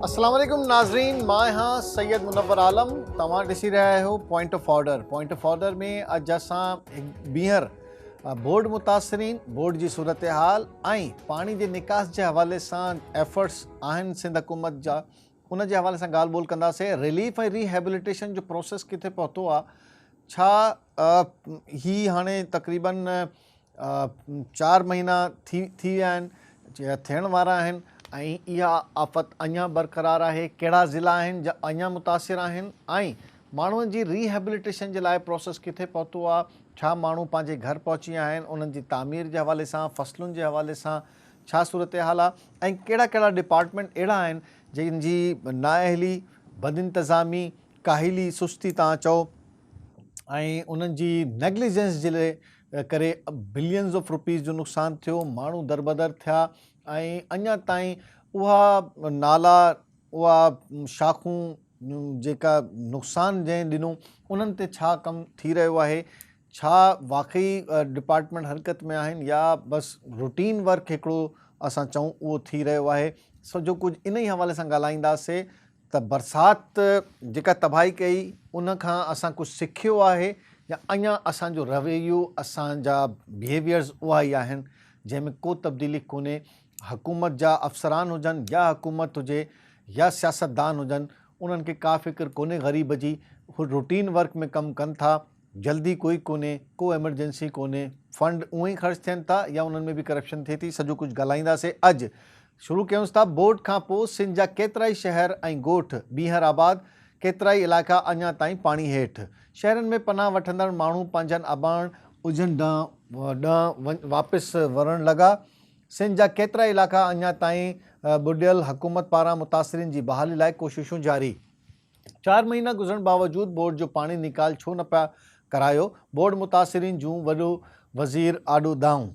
السلام عليڪم ناظرين مان آهيان سيد منور عالم توهان ڏسي رهيا آهيو point of order point of order ۾ اڄ اسان ٻيهر بورڊ متاثرين بورڊ جي صورتحال ۽ پاڻي جي نڪاس جي حوالي سان ايفرٽس آهن سنڌ حڪومت جا ان جي حوالي سان ڳالهه ٻولهه ڪنداسين ريليف ۽ ري هيبليٽيشن جو پروسيس ڪٿي پهتو آ ڇا هي هاڻي تقريبن چار مهينا ٿي ٿي ويا آهن ٿيڻ وارا آهن ۽ اها آفت اڃا برقرار آهي ڪهڙا ضلع آهن جا اڃا متاثر آهن ۽ ماڻهن جي ري هيبليٽيشن جي لاء پروسيس ڪٿي پهتو آ ڇا ماڻهو پنهنجي گهر پهچي آهن انهن جي تعمير جي حوالي سان فصلن جي حوالي سان ڇا صورتحال آ ۽ ڪهڙا ڪهڙا ڊپارٽمينٽ اهڙا آهن جن جي نااهلي، بدانتظامي، ڪاهلي، سستي تان چئو ۽ انهن جي نيگليجنس جي ڪري بلينز آف روپيز جو نقصان ٿيو، ماڻهو دربدر ٿيا ۽ اڃا تائين اها نالا اها شاخون جيڪا نقصان جنهن ڏنو انهن تي ڇا ڪم ٿي رهيو آهي. ڇا واقعي ڊپارٽمينٽ حرڪت ۾ آهن يا بس روٽين ورڪ هڪڙو اسان چئون اهو ٿي رهيو آهي سڄو ڪجهه انهي حوالي سان ڳالهائينداسي ته برسات جيڪا تباهي ڪئي ان کان اسان ڪجهه سکيو آهي يا اڃا اسان جو رويو اسان جا بيهيويئرز اها ئي آهن جنهن ۾ ڪو تبديلي ڪونهي حڪومت جا افسران هجن يا حڪومت هجي يا سياستدان هجن انهن کي ڪا فڪر ڪونهي غريب جي هو روٽين ورڪ ۾ ڪم ڪن ٿا جلدي ڪوئي ڪونهي ڪو ايمرجنسي ڪونهي فنڊ اونئن ئي خرچ ٿين ٿا يا انهن ۾ به ڪرپشن ٿئي ٿي سڄو ڪجهه ڳالهائينداسي اڄ شروع ڪيونس ٿا بوٽ کان پو سنڌ جا ڪيترائي شهر ۽ ڳوٺ بيهر آباد ڪيترائي علائقا اڃا تائين پاڻي هيٺ شهرن ۾ پناهه وٺندڙ ماڻهو پنهنجن اباڻ اجهن ڏانهن واپس ورڻ لڳا سنڌ جا ڪيترائي علائقا اڃا تائين ٻڏيل حڪومت پاران متاثرين جي بحالي لاء ڪوششون جاري. چار مهينا گذرڻ باوجود بورڊ جو پاڻي نيڪال ڇو نه پيا ڪرايو، بورڊ متاثرين جون وڏو وزير آڏو دانهون.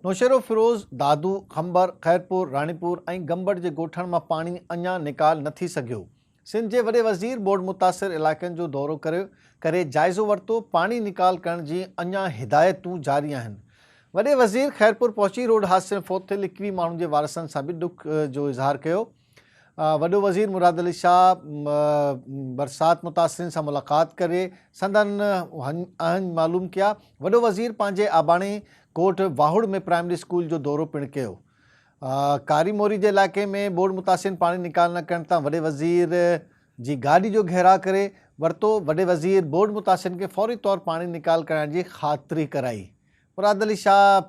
نوشهروفيروز، دادو، خمبر، خيرپور، راڻيپور ۽ گمبٽ جي ڳوٺن مان پاڻي اڃان نيڪال نه ٿي سگهيو. سنڌ جي وڏي وزير بورڊ متاثر علائقن جو دورو ڪري ڪري جائزو ورتو، پاڻي نيڪال ڪرڻ جي اڃان هدايتون جاري آهن. وڏي وزير خيرپور پهچي روڊ حادثي ۾ فوت ٿيل ايڪويهه ماڻهن جي وارثن سان به ڏک جو اظهار ڪيو. وڏو وزير مراد علي شاهه برسات متاثرين سان ملاقات ڪري سندن اهڃ معلوم ڪيا، وڏو وزير پنهنجي آباڻي ڪوٽ واهوڙ ۾ پرائمري اسڪول جو دورو پڻ ڪيو، ڪاري موري جي علائقي ۾ ٻوڏ متاثرين پاڻي نيڪال نه ڪرڻ تان وڏي وزير جي گاڏي جو گهيراء ڪري ورتو، وڏي وزير ٻوڏ متاثرين کي فوري طور پاڻي نيڪال ڪرائڻ جي خاطري ڪرائي، مراد علي شاهه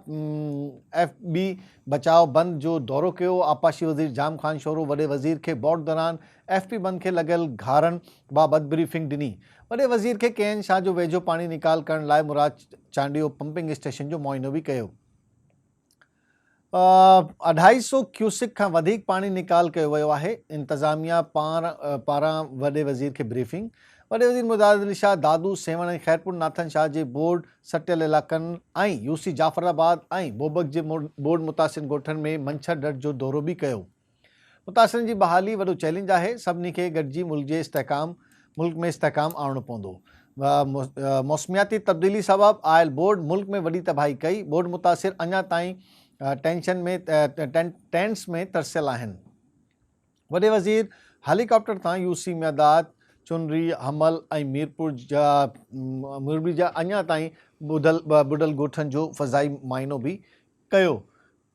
ايف بي بچاء بند جو دورو ڪيو، آبپاشي وزير جام خان شورو وڏي وزير کي بورڊ دوران ايف بي بند کي لڳل گهارن بابت بريفنگ ڏني، وڏي وزير کي ڪي اين شاهه جو ويجهو پاڻي نيڪال ڪرڻ لاء مراد چانڊيو پمپنگ اسٽيشن جو معائنو به ڪيو. اڍائي سئو ڪيوسڪ کان وڌيڪ پاڻي نيڪال ڪيو ويو آهي، انتظاميا پاران وڏي وزير کي بريفنگ، وڏي وزير مجاهد علي شاهه، دادو سيوهڻ ۽ خيرپور ناٿن شاهه جي بورڊ سٽيل علائقن ۽ يوسي جعفر آباد ۽ بوبڪ جي بورڊ متاثرين ڳوٺن ۾ منڇر ڍٽ جو دورو به ڪيو. متاثرين جي بحالي وڏو چئلينج آهي، سڀني کي گڏجي ملڪ جي استحڪام ملڪ ۾ استحڪام آڻڻو پوندو، موسمياتي تبديلي سبب آيل ٻوڏ ملڪ ۾ وڏي تباهي ڪئي، ٻوڏ متاثر اڃا تائين ٽينشن ۾ ٽينٽس ۾ ترسيل آهن، وڏي وزير هيلي ڪاپٽر تان يو سي ميداد، چنري، حمل ۽ ميرپور جا ميرپور جا اڃا تائين ٻڏل ڳوٺن جو فضائي معائنو به ڪيو.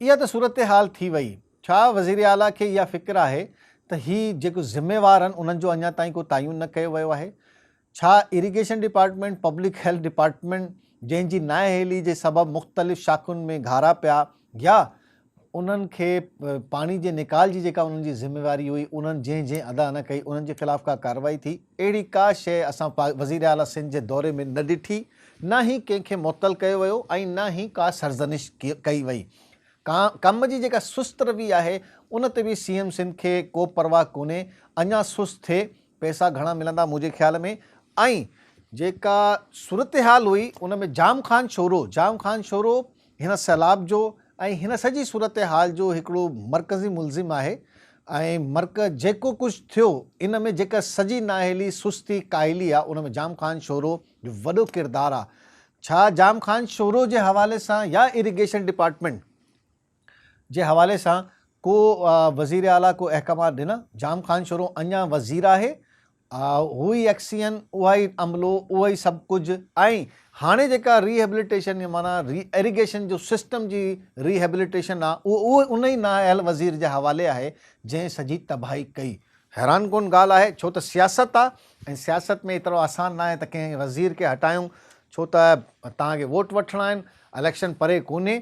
اها ته صورتحال ٿي وئي. ڇا وزير اعليٰ کي اها فڪر آهي ته هي جيڪو ذميوار آهن انهن جو اڃا تائين ڪو تعين نه ڪيو ويو آهي؟ ڇا irrigation department, public health department جنهن جي نااهلي جي سبب مختلف شاخن ۾ گهارا پيا يا انهن کي پاڻي جي نيڪال جي جيڪا انهن جي ذميواري هئي انهن جنهن جنهن ادا نه ڪئي انهن جي خلاف ڪا ڪارروائي ٿي؟ اهڙي ڪا شيء اسان وزير اعليٰ سنڌ جي دوري ۾ نه ڏٺي، نه ئي ڪنهن کي معطل ڪيو ويو ۽ نه ئي ڪا سرزنش ڪئي وئي. قوم جي جيڪا سست روي آهي، ان تي به سي ايم سنڌ کي ڪو پرواهه ڪونهي، اڃا سست ٿئي، پئسا گهڻا ملندا منهنجي خيال ۾ ۽ جيڪا صورتحال هئي ان ۾ جام خان شورو، جام خان شورو هن سيلاب جو ۽ هن سڄي صورتحال جو هڪڙو مرڪزي ملزم آهي ۽ مرڪ جيڪو ڪجهه ٿيو ان ۾ جيڪا سڄي نااهلي، سستي، ڪاهلي آ ان ۾ جام خان شورو جو وڏو ڪردار آ. ڇا جام خان شورو جي حوالي سان يا اريگيشن ڊپارٽمينٽ جي حوالي سان ڪو وزير اعليٰ ڪو احڪامات ڏنا؟ جام خان شورو اڃان وزير آهي. آء هو ئي اڪسيئن، اها ئي عملو، اهو ئي سڀ ڪجهه ۽ هاڻي جيڪا ري هيبليٽيشن يا معنيٰ ري ايريگيشن جو سسٽم جي ري هيبليٽيشن آ اهو اهو ان ئي نااهل وزير جي حوالي آهي جنهن سڄي تباهي ڪئي. حيران ڪن ڳالهه آهي ڇو ته سياست آ ۽ سياست ۾ ايترو آسان ناهي ته ڪنهن وزير کي هٽايون ڇو ته توهان کي ووٽ وٺڻا آهن اليڪشن پري ڪونهي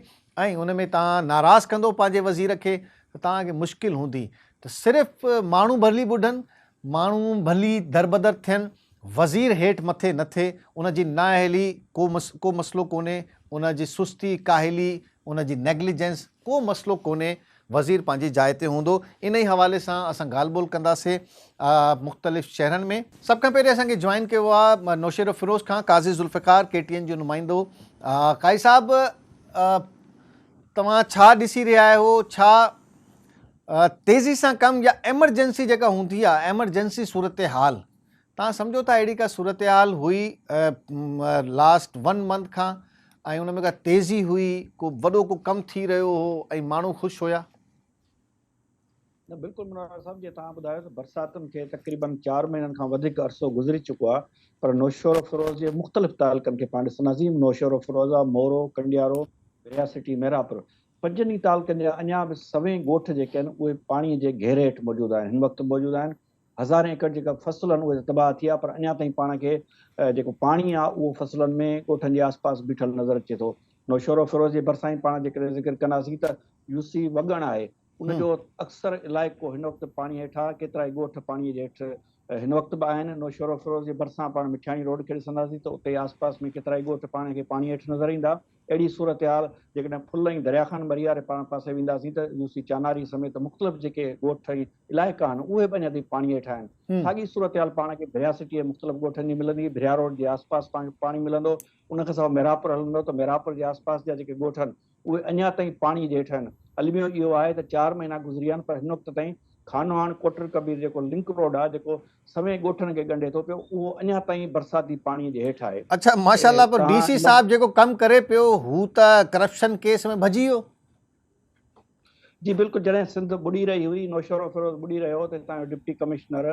۽ ان ۾ توهان ناراض ڪندو پنهنجي وزير کي ته توهان کي مشڪل هوندي ته صرف ماڻهو ڀلي ٻڍن ماڻهو ڀلي دربدر ٿين، وزير هيٺ مٿي نه ٿئي، ان جي نااهلي ڪو ڪو مسئلو ڪونهي، ان جي سستي، ڪاهلي، ان جي نيگليجنس ڪو مسئلو ڪونهي، وزير پنهنجي جاء تي هوندو. انهي حوالي سان اسان ڳالهه ٻولهه ڪنداسين مختلف شهرن ۾. سڀ کان پهرين اسان کي جوائن ڪيو آهي نوشهروفيروز کان قاضي ذوالفقار ڪي ٽي اين جو نمائندو. قاضي صاحب توهان ڇا ڏسي رهيا آهيو ڇا تيزي سان ڪم يا ايمرجنسي جيڪا هوندي آ ايمرجنسي صورتحال تهان سمجهو ٿا اهڙي ڪا صورتحال هئي لاسٽ ون منٿ کان ۽ ان ۾ ڪا تيزي هئي ڪو وڏو ڪو ڪم ٿي رهيو هو ۽ ماڻهو خوش هيا نه بلڪل منار صاحب جي تهان ٻڌايو ته برساتن کي تقريبن چار مهينن کان وڌيڪ عرصو گذري چڪو آ پر نوشهروفيروز جي مختلف تعلقن کي پاڻ ڏسن عظيم نوشهروفيروز آ مورو ڪنڊيارو رياسٽي ميرا پور پنجن ئي تعلقن جا اڃا به سوين ڳوٺ جيڪي آهن اهي پاڻي جي گهيري هيٺ موجود آهن هن وقت به موجود آهن هزارين ايڪڙ جيڪا فصل آهن اهي ته تباهه ٿي ويا پر اڃا تائين پاڻ کي جيڪو پاڻي آهي اهو فصلن ۾ ڳوٺن جي آسپاس بيٺل نظر اچي ٿو نوشهروفيروز جي ڀرسان ئي پاڻ جيڪڏهن ذڪر ڪنداسين ته يو سي وڳڻ آهي ان جو اڪثر علائقو هن وقت پاڻي هيٺ آهي ڪيترائي ڳوٺ پاڻي جي هيٺ هن وقت به آهن نوشهروفيروز جي ڀرسان پاڻ مٺياڻي روڊ کي ڏسنداسين ته اتي آسپاس ۾ ڪيترائي ڳوٺ پاڻ کي پاڻي هيٺ نظر ايندا اهڙي صورتحال جيڪڏهن ڦل ۽ دريا خان مرياري پاران پاسي وينداسين ته يو سي چاناري سميت مختلف جيڪي ڳوٺ ۽ علائقا آهن اهي به اڃا تائين پاڻي هيٺ آهن. ساڳي صورتحال پاڻ کي ڀريا سٽيء جي مختلف ڳوٺن جي ملندي، ڀريا روڊ جي آس پاس پاڻ کي پاڻي ملندو، ان کان سواء ميرهاپور هلندو ته ميرهاپور جي آس پاس جا جيڪي ڳوٺ آهن اهي اڃا تائين پاڻي جي هيٺ آهن. الميو اهو آهي ته چار مهينا گذري ويا آهن پر هن وقت تائين خانوهاڻ ڪوٽڙڪبير جيڪو لنڪ روڊ آهي جيڪو سوين ڳوٺن کي ڳنڍي ٿو پيو اهو اڃا تائين برساتي پاڻي جي هيٺ آهي. اڇا ماشاء الله پر ڊي سي صاحب جيڪو ڪم ڪري پيو هو ته ڪرپشن ڪيس ۾ ڀڄي ويو. جي بلڪل جڏهن سنڌ ٻڏي رهي هئي نوشهرو فيروز ٻڏي رهيو هو ته هتان جو ڊپٽي ڪمشنر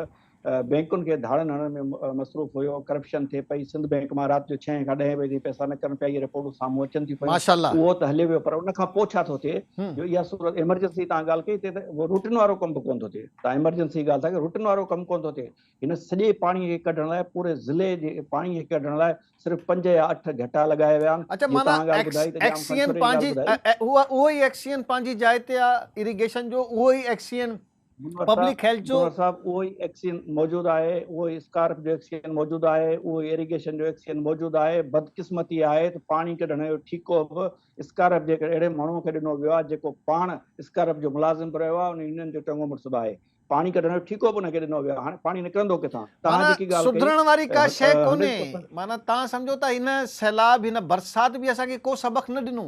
بينڪن کي ڌاڙن هڻڻ ۾ مصروف هيو ڪرپشن ٿئي پئي سنڌ بينڪ مان رات جو ڇهين کان ڏهين بجي تائين پئسا نڪرن پيا اهي رپورٽون سامهون اچن ٿيون پيون اهو ته هليو ويو پر ان کان پوء ڇا ٿو ٿئي جو اها صورت ايمرجنسي تان ڳالهه ڪئي هتي ته روٽين وارو ڪم به ڪونه ٿو ٿئي. ته ايمرجنسي جي ڳالهه ٿا ڪيون روٽن وارو ڪم ڪونه ٿو ٿئي هن سڄي پاڻي کي ڪڍڻ لاء پوري ضلعي جي پاڻي کي ڪڍڻ لاء صرف پنج يا اٺ گهٽا لڳايا ويا آهن اڇا معنيٰ ايڪسين پنهنجي اهو ئي ايڪسين پنهنجي جاء تي آهي اريگيشن جو اهو ئي ايڪسين پبلڪ هيلٿ جو منور صاحب اهو ئي ايڪسين موجود آهي اهو ئي اسڪارپ جو ايڪسين موجود آهي اهو ئي اريگيشن جو ايڪسين موجود آهي بدقسمتي آهي ته پاڻي ڪڍڻ جو ٺيڪو به اسڪارف جي هڪ اهڙي ماڻهوء کي ڏنو ويو آهي، جيڪو پاڻ اسڪارف جو ملازم به رهيو آهي ۽ يونين جو چڱو مڙس به آهي. پاڻي ڪڍڻ جو ٺيڪو به هن کي ڏنو ويو آهي. هاڻي پاڻي نڪرندو ڪٿان؟ توهان معنيٰ جيڪي ڳالهه ڪئي، سڌرڻ واري ڪا شيء ها، هنري ڪونهي. پسند. معنيٰ توهان سمجهو ٿا هن سيلاب، هن برسات به اسان کي ڪو سبق نه ڏنو؟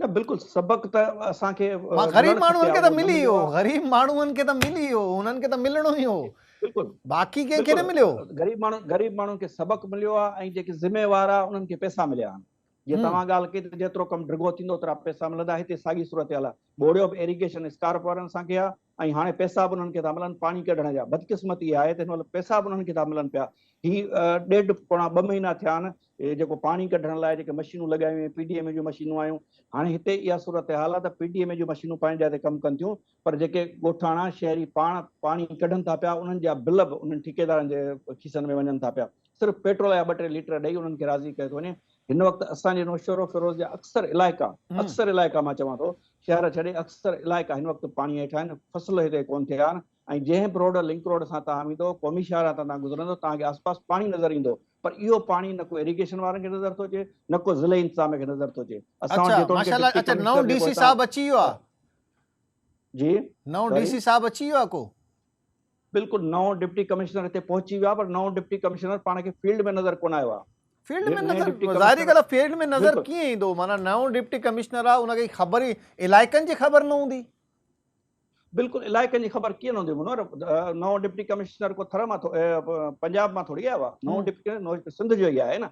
نه بلڪل، سبق ته اسان کي معنيٰ غريب ملڻ ماڻهن کپي کي ها، ته اهو نه ملي مليو ويو. آهي. غريب ماڻهن کي ته ملي ويو. انهن کي ته ملڻو ئي هو. بلڪل باقي ڪنهن کي نه مليو. غريب ماڻهن غريب ماڻهن کي سبق مليو آهي ۽ جيڪي ذميوار آهي انهن کي پئسا مليا آهن جيئن توهان ڳالهه ڪئي ته جيترو ڪم ڊگهو ٿيندو اوترا پئسا ملندا هتي ساڳي صورتحال آهي ٻوڙيو به ايريگيشن اسڪارپ وارن اسان کي آهي ۽ هاڻي پئسا به انهن کي ٿا ملن پاڻي ڪڍڻ جا بدقسمتي اها آهي ته هن مهل پئسا به انهن کي ٿا ملن پيا هي ڏيڍ پوڻا ٻه مهينا ٿيا آهن جيڪو پاڻي ڪڍڻ لاء جيڪي مشينون لڳايون ويون پي ڊي ايم اي جون مشينون آيون هاڻي هتي اها صورتحال آهي ته پي ڊي ايم اي جون مشينون پنهنجي جاء تي ڪم ڪن ٿيون پر جيڪي ڳوٺاڻا شهري پاڻ پاڻي ڪڍن ٿا پيا، انهن جا بل به انهن ٺيڪيدارن جي کيسن ۾ وڃن ٿا پيا. صرف پيٽرول يا ٻه ٽي ليٽر ڏئي انهن کي راضي ڪيو ٿو وڃي. هن وقت اسان جي نوشهروفيروز جا اڪثر علائقا، اڪثر علائقا مان چوان ٿو، شهر ڇڏي اڪثر علائقا هن وقت پاڻي هيٺ آهن، فصل هتي ڪونه ٿيا آهن ۽ جنهن به روڊ، لنڪ روڊ، سان توهان ويندو، قومي شاهراهه تان توهان گذرندو، توهان کي آسپاس پاڻي نظر ايندو، پر اهو پاڻي نه ڪو ايريگيشن وارن کي نظر ٿو اچي، نه ڪو ضلعي انتظاميه کي نظر ٿو اچي. اسان وٽ جيتوڻيڪ ڊپٽي ڪمشنر جي پوئتان جي نئون ڊي سي صاحب اچي ويو آ ڪو. بلڪل نئون ڊپٽي ڪمشنر اتي پهچي ويو آ پر نئون ڊپٽي ڪمشنر پاڻ کي فيلڊ ۾ نظر ڪونه آيو آ. فيلڊ ۾ نظر ظاهري ڳالهه آ فيلڊ ۾ نظر ڪيئن ايندو معنيٰ نئون ڊپٽي ڪمشنر آ ان کي خبر ئي علائقن جي خبر نه هوندي. بلڪل علائقن جي خبر ڪيئن نه هوندي منور نئون ڊپٽي ڪمشنر ڪو ٿر مان پنجاب مان ٿوري آيو آ نئون ڊپٽي سنڌ جو ئي آهي نه.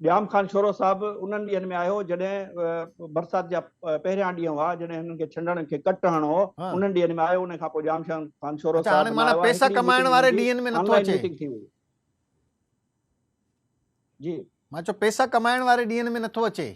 ڄام خان شورو صاحب انهن ڏينهن ۾ آيو جڏهن برسات جا پهريان ڏينهن هئا جڏهن هنن کي ڇنڊڻ کي ڪٽ هڻڻو هو انهن ڏينهن ۾ آيو انهن کان پوء ڄام خان شورو صاحب نه آيو آهي هڪڙي ميٽنگ هنن جي آن لائن ميٽنگ ٿي هئي جي مان چيو پئسا ڪمائڻ واري ڏينهن ۾ نٿو اچي.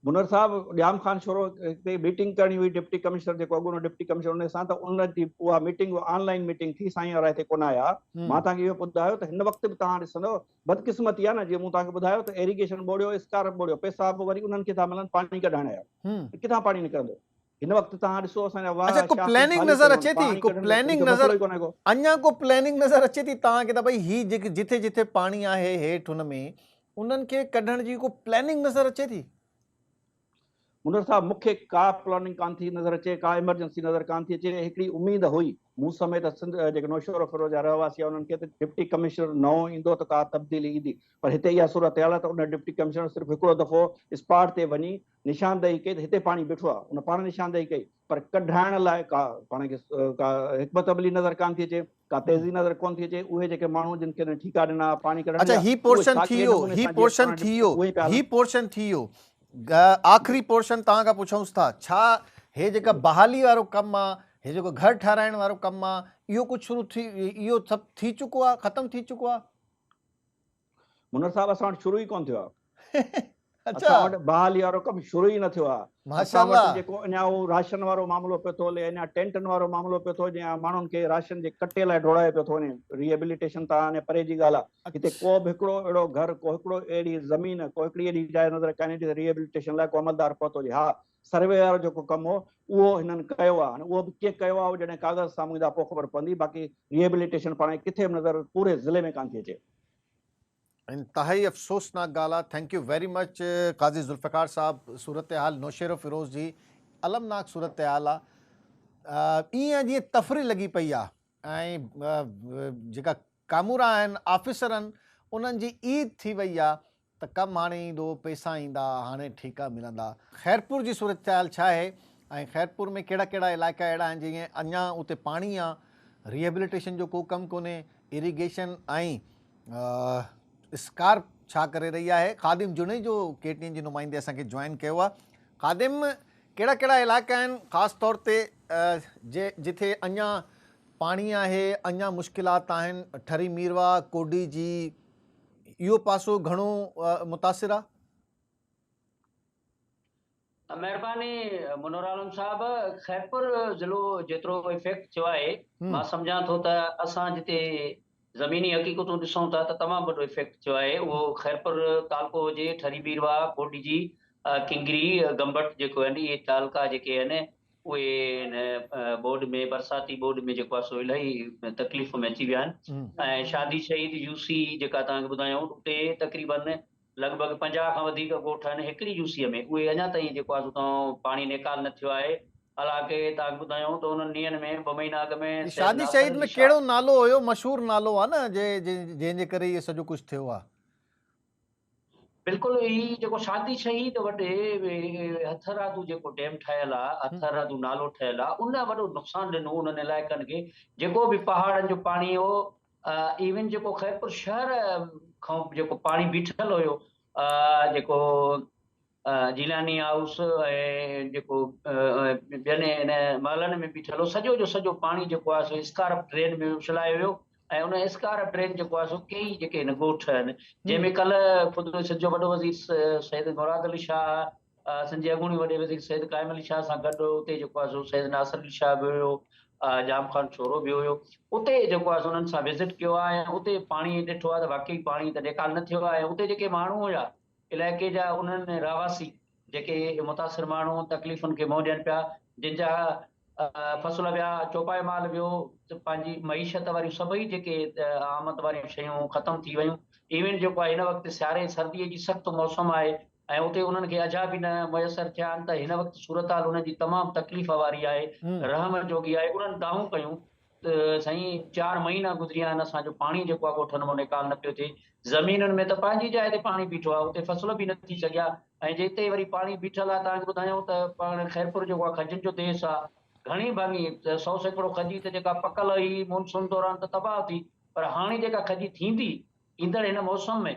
منور صاحب ڄام خان شورو تي ميٽنگ ڪرڻي هئي ڊپٽي ڪمشنر جيڪو اڳوڻو ڊپٽي ڪمشنر ان سان ته ان جي اها ميٽنگ آن لائين ميٽنگ ٿي سائين وارا هتي ڪونه آيا مان توهان کي اهو ٻڌايو ته هن وقت به توهان ڏسندو بدقسمتي آهي نه جيئن مون توهان کي ٻڌايو ته ايريگيشن ٻوڙيو اسڪارپ ٻوڙيو پئسا به وري انهن کي ٿا ملن پاڻي ڪڍائڻ جا ته ڪٿان پاڻي نڪرندو هن وقت توهان ڏسو اسان جا واهه شاخ خالي پيا آهن پاڻي ڪڍڻ جو مسئلو ئي ڪونهي ڪو. اڃا ڪو پلاننگ نظر اچي ٿي توهان کي ته ڀئي هي جيڪي جتي جتي پاڻي آهي هيٺ هن ۾ انهن کي ڪڍڻ جي ڪو پلاننگ نظر اچي ٿي؟ منور صاحب مون کي ڪا پلاننگ ڪانه ٿي نظر اچي ڪا ايمرجنسي نظر ڪانه ٿي اچي هڪڙي اميد هئي مون سميت سنڌ جيڪي نوشهرو فيروز جا رهواسي انهن کي ته ڊپٽي ڪمشنر نئون ايندو ته ڪا تبديلي ايندي پر هتي اها صورتحال آهي ته ان ڊپٽي ڪمشنر صرف هڪڙو دفعو اسپاٽ تي وڃي نشاندهي ڪئي ته هتي پاڻي بيٺو آهي. ان پاڻ نشاندهي ڪئي، پر ڪڍرائڻ لاء ڪا پاڻ کي ڪا حڪمت عملي نظر ڪانه ٿي اچي، ڪا تيزي نظر ڪونه ٿي اچي. اهي جيڪي ماڻهو جن کين ٺيڪا ڏنا ها پاڻي ڪڍڻ جا، اهي ڇا ڪهڙي نموني سان جيئن پاڻ ڏٺو اهو ئي پيا هلن. پورشن ٿي ويو. آخري پورشن توهان کان پڇونس ٿا. ڇا هي جيڪا بحالي وارو ڪم آهي، هي جيڪو گهر ٺهرائڻ وارو ڪم آهي، اهو ڪجهه شروع ٿي، اهو سڀ ٿي چڪو آهي، ختم ٿي چڪو آهي؟ منور صاحب اسان وٽ شروع ئي ڪونه ٿيو آهي اسان وٽ بحالي وارو ڪم شروع ئي نه ٿيو آهي اسان وٽ جيڪو اڃا اهو راشن وارو معاملو پيو ٿو هلي اڃا ٽينٽن وارو معاملو پيو ٿو هلي ماڻهن کي راشن جي ڪٽي لاء ڊوڙايو پيو ٿو وڃي ري ايبليٽيشن تان هاڻي پري جي ڳالهه آهي هتي ڪو به هڪڙو اهڙو گهر ڪو هڪڙو اهڙي زمين ڪو هڪڙي اهڙي جاء نظر ڪانه ايندي ته ري ايبليٽيشن لاء ڪو عملدار پهتو هجي ها سروي وارو جيڪو ڪم هو اهو هنن ڪيو آهي هاڻي اهو به ڪيئن ڪيو آهي اهو جڏهن ڪاغذ سامهون ايندا پوء خبر پوندي باقي ري ايبليٽيشن پاڻ کي ڪٿي به نظر پوري ضلعي ۾ ڪانه ٿي اچي انتهائي افسوسناڪ ڳالهه آهي thank you very much Qazi Zulfiqar صاحب صورتحال نوشيرو فيروز جي المناڪ صورتحال آ ائين جي تفري لڳي پئي آ ۽ جيڪا ڪامورا آهن آفيسرن انهن جي عيد ٿي وئي آ ته ڪم هاڻي ايندو، پئسا ايندا، هاڻي ٺيڪا ملندا. خيرپور جي صورتحال ڇا آهي ۽ خيرپور ۾ ڪهڙا ڪهڙا علائقا اهڙا آهن جئين اڃا اتي پاڻي آ، ريهبليٽيشن جو ڪو ڪم ڪونهي، اريگيشن ۽ اسڪارپ ڇا ڪري رهي آهي، خادم جوڻيجو ڪي ٽي اين جي نمائندي اسان کي جوائن ڪيو آ، خادم ڪهڙا ڪهڙا علائقا آهن خاص طور تي جتي اڃا پاڻي آهي، اڃا مشڪلات آهن، ٺري ميرواهه، ڪوڊي جي، اهو پاسو گهڻو متاثر آ. مهرباني منورعالم صاحب خيرپور ضلعو جيترو افيڪٽ ٿيو آهي مان سمجهان ٿو ته اسان جتي زميني حقيقتون ڏسون ٿا ته تمام وڏو افيڪٽ ٿيو آهي اهو خيرپور تعلقو هجي ٺري بيرواهه ڪوڏجي ڪنگري گمبٽ جيڪو آهن اهي تعلقا جيڪي آهن اهي هن ٻوڏ ۾ برساتي ٻوڏ ۾ جيڪو آهي سو الائي تڪليف ۾ اچي ويا آهن ۽ شادي شهيد يو سي جيڪا توهان کي ٻڌايائون اتي تقريبن لڳ ڀڳ پنجاهه کان وڌيڪ ڳوٺ آهن هڪڙي يو سيء ۾ اهي اڃا تائين جيڪو آهي سو پاڻي نيڪال نه ٿيو آهي حالانڪه توهان کي ٻڌايائون ته انهن ڏينهن ۾ ٻه مهينا اڳ ۾ شادي شهيد ۾ ڪهڙو نالو هيو مشهور نالو آهي نه جنهن جي ڪري اهي سڄو ڪجهه ٿيو آهي. بلڪل هي جيڪو شادي شهيد وٽ هٿرادو جيڪو ڊيم ٺهيل آ هٿرادو نالو ٺهيل آ ان وڏو نقصان ڏنو انهن علائقن کي جيڪو به پهاڙن جو پاڻي هو ايون جيڪو خيرپور شهر کان جيڪو پاڻي بيٺل هيو جيڪو جيلاني هائوس ۽ جيڪو ٻين ان محلن ۾ بيٺل هو سڄو جو سڄو پاڻي جيڪو آهي سو اسڪارپ ڊرين ۾ اڇلايو ويو ۽ ان اسڪارپ ڊرين جيڪو آهي سو ڪيئي جيڪي هن ڳوٺ آهن جنهن ۾ ڪلهه خود سنڌ جو وڏو وزير سيد مراد علي شاهه سنڌ جي اڳوڻي وڏي وزير سيد قائم علي شاهه سان گڏ اتي جيڪو آهي سو سيد ناصر علي شاهه به هيو جام خان شورو به هيو اتي جيڪو آهي سو انهن سان وزٽ ڪيو آهي ۽ اتي پاڻي ڏٺو آهي ته واقعي پاڻي ته نيڪال نه ٿيو آهي ۽ اتي جيڪي ماڻهو هيا علائقي جا انهن رهواسي جيڪي متاثر ماڻهو تڪليفن کي منهن ڏين پيا جن جا فصل ويا چوپايو مال ويو ته پنهنجي معيشت واريون سڀئي جيڪي آمد واريون شيون ختم ٿي ويون ايون جيڪو آهي هن وقت سياري سردي جي سخت موسم آهي ۽ اتي انهن کي اجها به نه ميسر ٿيا آهن ته هن وقت صورتحال انهن جي تمام تڪليف واري آهي رحم جوڳي آهي انهن دانهون ڪيون ته سائين چار مهينا گذريا آهن اسان جو پاڻي جيڪو آهي ڳوٺن مان نيڪال نه پيو ٿئي زمينن ۾ ته پنهنجي جاء تي پاڻي بيٺو آهي اتي فصل به نه ٿي سگهيا ۽ جتي وري پاڻي بيٺل آهي توهان کي ٻڌايون ته پاڻ خيرپور جيڪو آهي کجن جو ديس آهي گهڻي ڀاڱي سو سيڪڙو کجي ته جيڪا پڪل هئي مون سون دوران ته تباهه ٿي پر هاڻي جيڪا کجي ٿيندي ايندڙ هن موسم ۾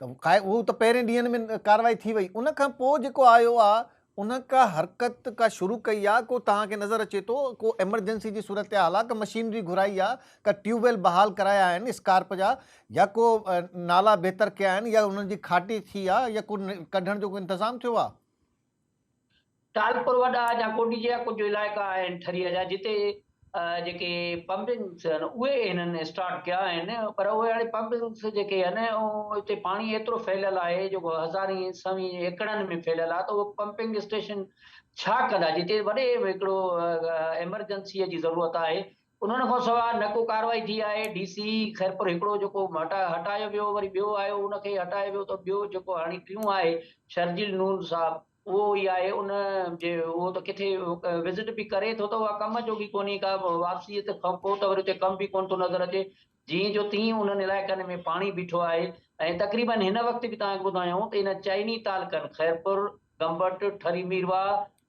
ته خا هو ته پهرين ڏينهن ۾ ڪارروائي ٿي وئي ان کان پوء جيڪو آيو آ ان ڪا حرڪت ڪا شروع ڪئي آ ڪو توهان کي نظر اچي ٿو ڪو ايمرجنسي جي صورتحال آ ڪا مشينري گهرائي آ ڪا ٽيوب ويل بحال ڪرايا آهن اسڪارپ جا يا ڪو نالا بهتر ڪيا آهن يا انهن جي کاٽي ٿي آ يا ڪو ڪڍڻ جو ڪو انتظام ٿيو آ. ٽالپر وڏا جا ڪوٽ جيا ڪجهه علائقا آهن ٺريء جا جتي جيڪي پمپنگس آهن اهي هنن اسٽارٽ ڪيا آهن پر اهي هاڻي پمپنگس جيڪي آهن اتي پاڻي ايترو ڦهليل آهي جو هزارين سوين ايڪڙن ۾ ڦهليل آهي ته اهو پمپنگ اسٽيشن ڇا ڪندا جتي وڏي هڪڙو ايمرجنسيء جي ضرورت آهي انهن کان سواء نه ڪو ڪارروائي ٿي آهي، ڊي سي خيرپور هڪڙو جيڪو هٽايو ويو وري ٻيو آيو ان کي هٽايو ويو ته ٻيو جيڪو هاڻي ٽيون آهي شرجيل نور صاحب اهو ئي آهي ان جي اهو ته ڪٿي وزٽ به ڪري ٿو ته اها ڪم جوڳي ڪونهي ڪا واپسي ات کان پوء ته وري اتي ڪم به ڪونه ٿو نظر اچي جيئن جو تيئن انهن علائقن ۾ پاڻي بيٺو آهي ۽ تقريبن هن وقت به توهان کي ٻڌايائون ته ان چئني تعلقن خيرپور، گمبٽ، ٺري ميرواهه،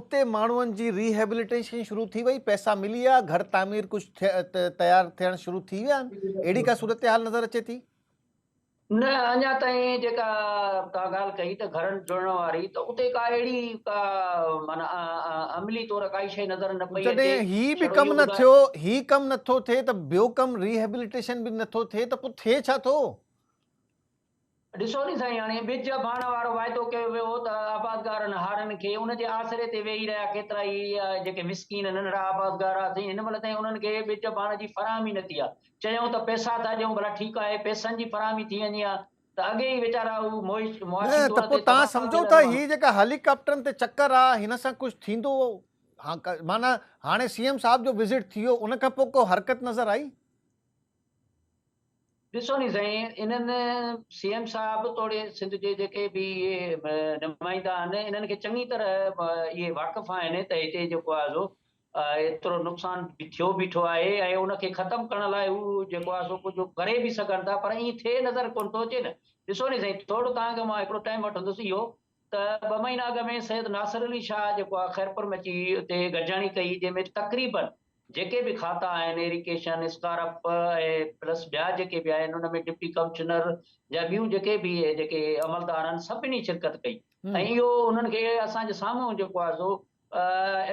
اتي ماڻهن جي ري هيبليٽيشن شروع ٿي وئي پئسا ملي ويا گهر تعمير ڪجهه تيار ٿيڻ شروع ٿي ويا آهن اهڙي ڪا صورتحال نظر اچي ٿي نه اڃا تائين جيڪا توهان ڳالهه ڪئي ته گهرن جڙڻ واري ته اتي ڪا اهڙي ڪا معنيٰ عملي طور ڪائي شيء نظر نه پئي اچي هي به ڪم نه ٿيو هي ڪم نٿو ٿئي ته ٻيو ڪم ريهيبليٽيشن به نٿو ٿئي ته پوء ٿئي ڇا ٿو ڏسو ني سائين هاڻي ٻج ڀاڻ وارو واعدو ڪيو ويو هو ته آبادگارن هارن کي ان جي آسري تي ويهي رهيا ڪيترا ئي جيڪي مسڪين ننڍڙا آبادگار آ سائين هن مهل تائين انهن کي ٻج ڀاڻ جي فراهمي نه ٿي آ چيائون ته پئسا ٿا ڏيون ڀلا ٺيڪ آهي پئسن جي فراهمي ٿي وڃي ها ته اڳي ئي ويچارا هو معاشي طور تي تباهه ٿا ٿين ته هي جيڪا هيليڪاپٽرن تي چڪر آ هن سان ڪجهه ٿيندو معنيٰ هاڻي سي ايم صاحب جو وزٽ ٿي ويو ان کان پوء ڪو حرڪت نظر آئي؟ ڏسو ني سائين انهن سي ايم صاحب توڙي سنڌ جي جيڪي به نمائندا آهن انهن کي چڱي طرح اهي واقف آهن ته هتي جيڪو آهي سو ايترو نقصان ٿيو بيٺو آهي ۽ ان کي ختم ڪرڻ لاء هو جيڪو آهي سو ڪجهه ڪري به سگهن ٿا پر ائين ٿئي نظر ڪونه ٿو اچي نه ڏسو ني سائين ٿورو توهان کي مان هڪڙو ٽائيم وٺندس اهو ته ٻه مهينا اڳ ۾ سيد ناصر علي شاهه جيڪو آ خيرپور ۾ اچي اتي گڏجاڻي ڪئي جنهن ۾ تقريباً جيڪي به کاتا آهن ايريڪيشن، اسڪارپ ۽ پلس ٻيا جيڪي به آهن ان ۾ ڊپٽي ڪمشنر جا ٻيون جيڪي به جيڪي عملدار آهن سڀني شرڪت ڪئي ۽ اهو انهن کي اسان جي سامهون جيڪو آ سو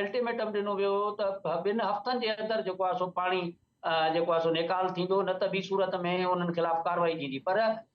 الٽيميٽم ڏنو ويو هو ته ٻن هفتن جي اندر جيڪو آ سو پاڻي جيڪو آ سو نيڪال ٿيندو نه ته ٻي صورت ۾ انهن خلاف ڪارروائي ٿيندي پر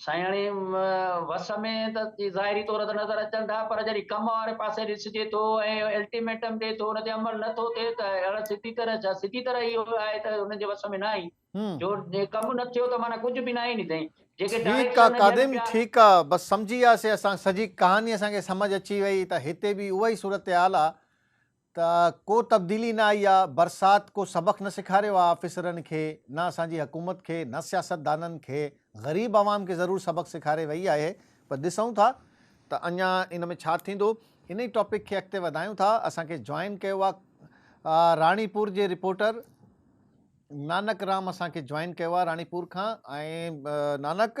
سهڻي وس ۾ ته ظاهري طور ته نظر اچن ٿا پر جڏهن ڪم واري پاسي ڏسجي ٿو ۽ الٽيميٽم ڏي ٿو ان تي عمل نه ٿو ٿئي ته اهڙا سڌي طرح ڇا سڌي طرح اهو آهي ته انهن جي وس ۾ نه آهي جو ڪم نه ٿيو ته معنيٰ ڪجهه به نه آهي ني سائين جيڪي ڊائريڪشن ٺيڪ آ قادم ٺيڪ آ بس سمجهي وياسي اسان سڄي ڪهاني اسان کي سمجهه اچي وئي ته هتي به اها ئي صورتحال آ ته ڪو تبديلي نه آئي آ، برسات ڪو سبق نه سيکاريو آ آفيسرن کي، نه اسان جي حڪومت کي، نه سياستدانن کي، غريب عوام کي ضرور سبق سيکاري وئي آهي پر ڏسون ٿا ته اڃا ان ۾ ڇا ٿيندو. ان ئي ٽاپڪ کي اڳتي وڌايون ٿا، اسان کي جوائن ڪيو آ راڻي پور جي رپورٽر نانڪ رام اسان کي جوائن ڪيو آ راڻي پور کان ۽ نانڪ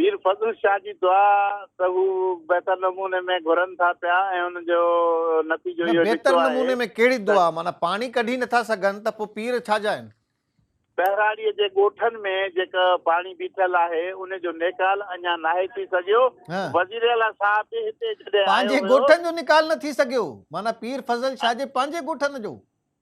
پير فضل شاهه جي دعا ته هو بهتر نموني ۾ گهرن ٿا پيا ۽ ان جو نتيجو اهو نڪتو آهي. بهتر نموني ۾ ڪهڙي دعا؟ معنيٰ پاڻي ڪڍي نٿا سگهن ته پوء پير ڇا جا آهن؟ ٻهراڙيء جي ڳوٺن ۾ جيڪا پاڻي بيٺل آهي ان جو نيڪال اڃا ناهي ٿي سگهيو، وزيراعليٰ صاحب به هتي جڏهن آيو هيو. پنهنجي ڳوٺن جو نيڪال نه ٿي سگهيو؟ معنيٰ پير فضل شاهه جي پنهنجي ڳوٺن جو؟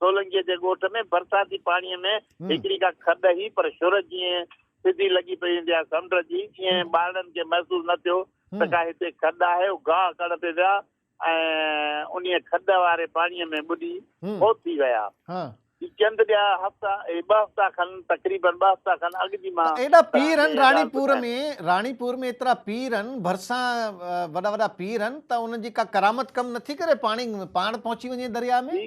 سولنگيء جي ڳوٺ ۾ برساتي پاڻيء ۾ هڪڙي ڪا کڏ هئي، پر شھر جيئن سڌي لڳي پئي ويندي آهي سمنڊ جي، ايئن ٻارڙن کي محسوس نه ٿيو ته ڪا هتي کڏ آهي. هو گاهه ڪڙهڻ تي ويا ۽ انهيء کڏ واري پاڻيء ۾ ٻڏي فوت ٿي ويا. هي چند ٻيا هفتا، اهي ٻه هفتا کن، تقريبن ٻه هفتا کن اڳ جي مان ته ايڏا پير هن راڻي پور ۾، راڻي پور ۾ ايترا پير هن، ڀرسان وڏا وڏا پير هن ته انهن جي ڪا ڪرامت ڪم نه ٿي ڪري پاڻي پاڻ پهچي وڃي درياء ۾؟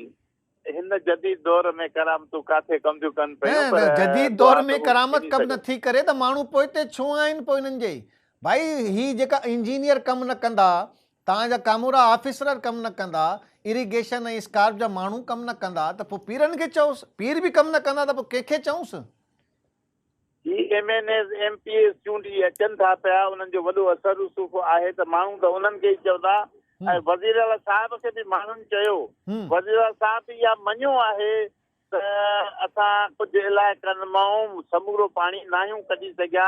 هن جديد دور ۾ ڪرامتون ڪاٿي ڪم ٿيون ڪن پيون پر نه جديد دور ۾ ڪرامت ڪم نه ٿي ڪري ته ماڻهو پوئتي ڇو آهن پوء انهن جي ڀائي هي جيڪا انجنيئر ڪم نه ڪندا توهان جا ڪامورا آفيسر ڪم نه ڪندا اريگيشن ۽ اسڪارپ جا ماڻهو ڪم نه ڪندا ته پوء پيرن کي چئوس پير به ڪم نه ڪندا ته پوء ڪنهن کي چئونس. جي M N As, M P As چونڊي اچن ٿا پيا انهن جو وڏو اثر رسوخ آهي ته ماڻهو ته انهن کي ئي چوندا ۽ وزير اعليٰ صاحب کي به ماڻهن چيو وزير اعليٰ صاحب به اها مڃيو آهي ته اسان ڪجهه علائقن مان سمورو پاڻي ناهيون ڪڍي سگهيا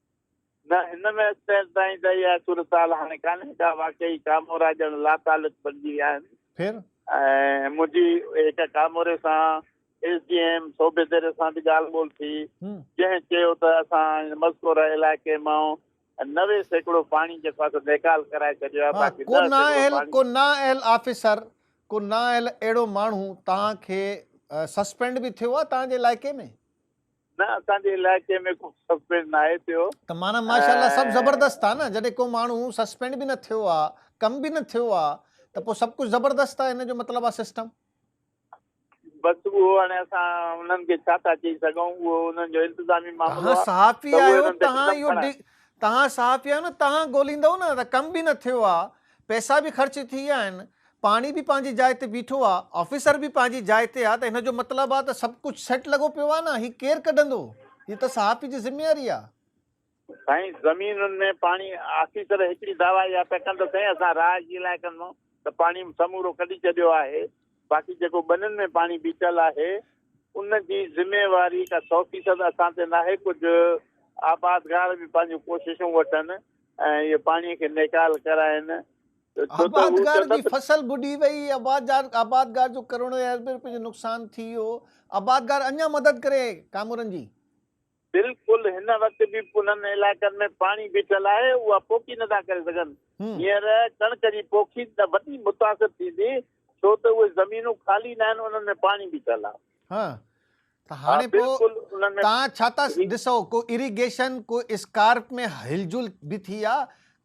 نه هن ۾ اڄتائين تائين ته اها صورتحال هاڻي ڪانهي ڪا واقعي ڪامورا ڄڻ لاتعلق بنجي ويا آهن پھر؟ ۽ منهنجي هڪ ڪاموري سان S D M Sobho Dero سان به ڳالهه ٻولهه ٿي جنهن چيو ته اسان هن مذڪوره علائقي مان نوي سيڪڙو پاڻي جيڪو آهي سو نيڪال ڪرائي ڇڏيو آهي باقي ڏهه سيڪڙو پاڻي. ڪو نااهل آفيسر ڪو نااهل اهڙو ماڻهو توهان کي سسپينڊ به ٿيو آهي توهان جي علائقي ۾؟ نه اسان جي علائقي ۾ ڪو سسپينڊ ناهي ٿيو ته معنيٰ ماشاءالله سڀ زبردست آ نه جڏهن ڪو ماڻهو سسپينڊ به نه ٿيو آ ڪم به نه ٿيو آ ته پوء سڀ ڪجهه زبردست آ ان جو مطلب آ سسٽم بس اهو هاڻي اسان انهن کي ڇا ٿا چئي سگهون اهو انهن جو انتظامي معاملو آ صحافي آهيو تهان اهو تهان صحافي آهيو نه تهان ڳوليندؤ نه ته ڪم به نه ٿيو آ پئسا به خرچ ٿي ويا آهن پاڻي به پنهنجي جاء تي بيٺو آ، آفيسر به پنهنجي جاء تي آ ته ان جو مطلب آ ته سڀ ڪجهه سيٽ لڳو پيو آ نه، هي ڪير ڪڍندو؟ هي ته صحافي جي ذميواري آ. سائين زمينن ۾ پاڻي آفيسر هڪڙي دعويٰ اها پيا ڪن ته سائين اسان رهائشي علائقن مان ته پاڻي سمورو ڪڍي ڇڏيو آهي باقي جيڪو ٻنين ۾ پاڻي بيٺل آهي ان جي ذميواري ڪا سؤ فيصد اسان تي ناهي ڪجهه آبادگار به پنهنجون ڪوششون وٺن ۽ اهي پاڻي کي نيڪال ڪرائين آبادگار جي فصل ٻڏي وئي، آبادگار جو ڪروڙين اربين روپين جو نقصان ٿي ويو، آبادگار اڃا مدد ڪري ڪامورن جي؟ بلڪل هن وقت به انهن علائقن ۾ پاڻي بيٺل آهي اها پوکي نٿا ڪري سگهن هينئر ڪڻڪ جي پوکي وڏي متاثر ٿيندي ڇو ته اهي زمينون خالي ناهن انهن ۾ پاڻي بيٺل آهي ته هاڻي پوء توهان ڇا ٿا ڏسو ڪو اريگيشن ڪو اسڪارپ ۾ هل جل به ٿي آ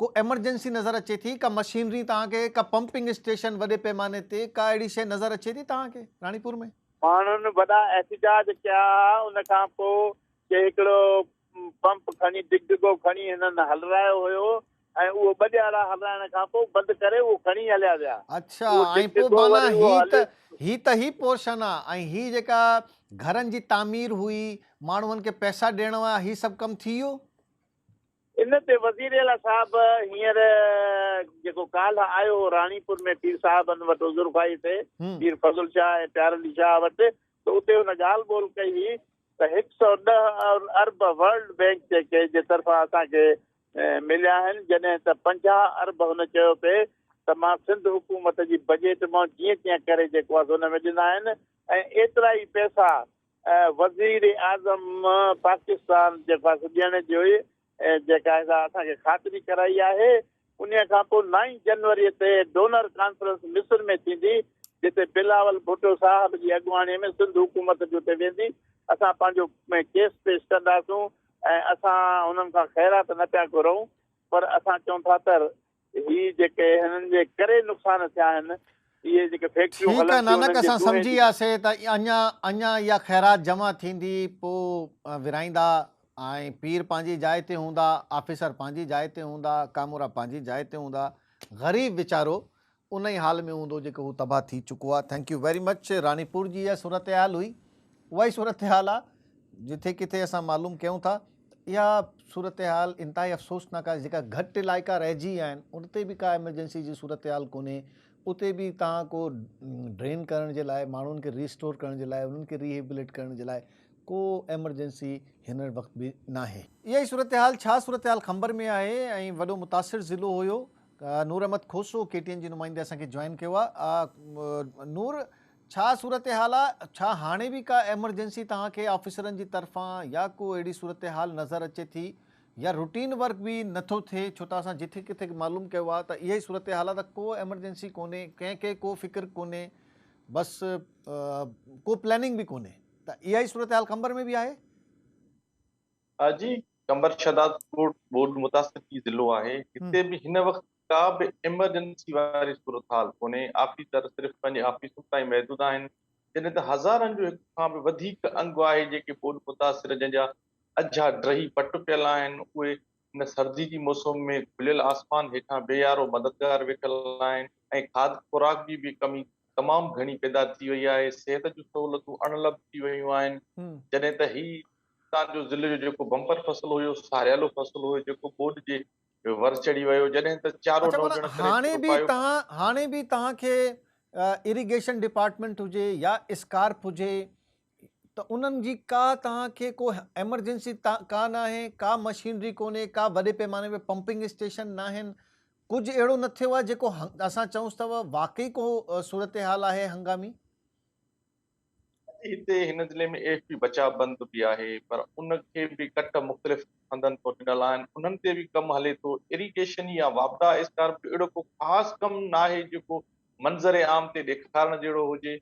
ڪو ايمرجنسي نظر اچي ٿي ڪا مشينري توهان کي ڪا پمپنگ اسٽيشن وڏي پيماني تي ڪا اهڙي شيء نظر اچي ٿي توهان کي راڻي پور ۾ ماڻهن وڏا احتجاج ڪيا ان کان پوء ڪي هڪڙو پمپ کڻي ڊگڊگو کڻي هنن هلرايو هيو ۽ اهو ٻه ڏيارا هلرائڻ کان پوء بند ڪري اهو کڻي هليا ويا. اڇا ۽ پوء معنيٰ هي ته هي ته هي پورشن آ ۽ هي جيڪا گهرن جي تعمير هئي ماڻهن کي پئسا ڏيڻ هئا هي سڀ ڪم ٿي ويو؟ ان تي وزير اعليٰ صاحب هينئر جيڪو ڪالهه آيو هو راڻي پور ۾ پير صاحبن وٽ عذر خواهي تي پير فضل شاهه ۽ پيار علي شاهه وٽ ته اتي هن ڳالهه ٻولهه ڪئي هئي ته هڪ سؤ ڏهه ارب ورلڊ بئنڪ جي ڪي جي طرفان اسان کي مليا آهن جڏهن ته پنجاهه ارب هن چيو پئي ته مان سنڌ حڪومت جي بجيٽ مان جيئن تيئن ڪري جيڪو آهي سو ان ۾ ڏنا آهن ۽ ايترا ئي پئسا وزيراعظم پاڪستان جيڪو آهي سو ڏيڻ جي جيڪا آهي سا اسان کي خاطري ڪرائي آهي انهي کان پوء نائين جنوري تي ڊونر ڪانفرنس مصر ۾ ٿيندي جتي بلاول ڀٽو صاحب جي اڳواڻي ۾ سنڌ حڪومت به اتي ويندي اسان پنهنجو ڪيس پيش ڪنداسون ۽ اسان انهن کان خيرات نه پيا گهرئون پر اسان چئون ٿا تر هي جيڪي هنن جي ڪري نقصان ٿيا آهن اهي جيڪي فيڪٽريون هلن ٺيڪ آهي نانڪ اسان سمجهي وياسي ته اڃا اڃا اها خيرات جمع ٿيندي پو ورهائيندا ۽ پير پنهنجي جاء تي هوندا آفيسر پنهنجي جاء تي هوندا ڪامورا پنهنجي جاء تي هوندا غريب ويچارو ان ئي حال ۾ هوندو جيڪو هو تباهه ٿي چڪو آ thank you very much Ranipur جي اها صورتحال هئي اهائي صورتحال آ جٿي ڪٿي اسان معلوم ڪيون ٿا ته اها صورتحال انتهائي افسوسناڪ آهي جيڪا گهٽ علائقا رهجي ويا آهن ان تي به ڪا ايمرجنسي جي صورتحال ڪونهي اتي به تهان ڪو ڊرين ڪرڻ جي لاء ماڻهن کي ريسٽور ڪرڻ جي لاء انهن کي ريهيبليٽ ڪرڻ جي لاء ڪو ايمرجنسي هن وقت به ناهي اهائي صورتحال ڇا صورتحال خمبر ۾ آهي ۽ وڏو متاثر ضلعو هيو Noor Ahmed Khoso K T N جي نمائندي اسان کي جوائن ڪيو آ نور ڇا صورتحال آ ڇا هاڻي به ڪا ايمرجنسي توهان کي آفيسرن جي طرفان يا ڪو اهڙي صورتحال نظر اچي ٿي يا روٽين ورڪ به نٿو ٿئي ڇو ته اسان جٿي ڪٿي معلوم ڪيو آ ته اها ئي صورتحال آ ته ڪو ايمرجنسي ڪونهي ڪنهن کي ڪو فڪر ڪونهي بس ڪو پلاننگ به ڪونهي ته اها ئي صورتحال قمبر ۾ به آهي. ها جي، قمبر شهداد ڪوٽ ٻوڏ متاثرڪي ضلعو آهي، هتي به هن وقت ڪا به ايمرجنسي واري صورتحال ڪونهي، آفيسر صرف پنهنجي آفيسن تائين محدود آهن، جڏهن ته هزارن جو هڪ کان به وڌيڪ انگ آهي جيڪي ٻوڏ متاثر جنهن جا اجها ڊهي پٽ پيل آهن اهي هن سردي جي موسم ۾ کليل آسمان هيٺان بي يارو مددگار ويٺل آهن ۽ کاڌ خوراڪ جي به ڪمي تمام گهڻي پيدا ٿي وئي آهي، صحت جون سهولتون اڻلڀ ٿي ويون آهن، جڏهن ته هي تان جو ضلعي جو جيڪو بمپر فصل هيو ساريالو فصل هيو جيڪو ٻوڏ جي ور چڙهي ويو جڏهن ته چارو اڇا معنيٰ هاڻي به توهان هاڻي به توهان کي اريگيشن ڊپارٽمينٽ هجي يا اسڪارپ هجي ته انهن جي ڪا توهان کي ڪو ايمرجنسي ڪا ناهي ڪا مشينري ڪونهي ڪا وڏي پيماني ۾ پمپنگ اسٽيشن ناهن ڪجهه اهڙو نه ٿيو آهي جيڪو اسان چئونس ته واقعي ڪو صورتحال آهي هنگامي هتي هن ضلعي ۾ ايف پي بچاء بند به آهي پر ان کي به ڪٽ مختلف هنڌن تان ڏنل آهن انهن تي به ڪم هلي ٿو اريگيشن يا واپڊا اسڪارپ جو اهڙو ڪو خاص ڪم ناهي جيڪو منظر عام تي ڏيکارڻ جهڙو هجي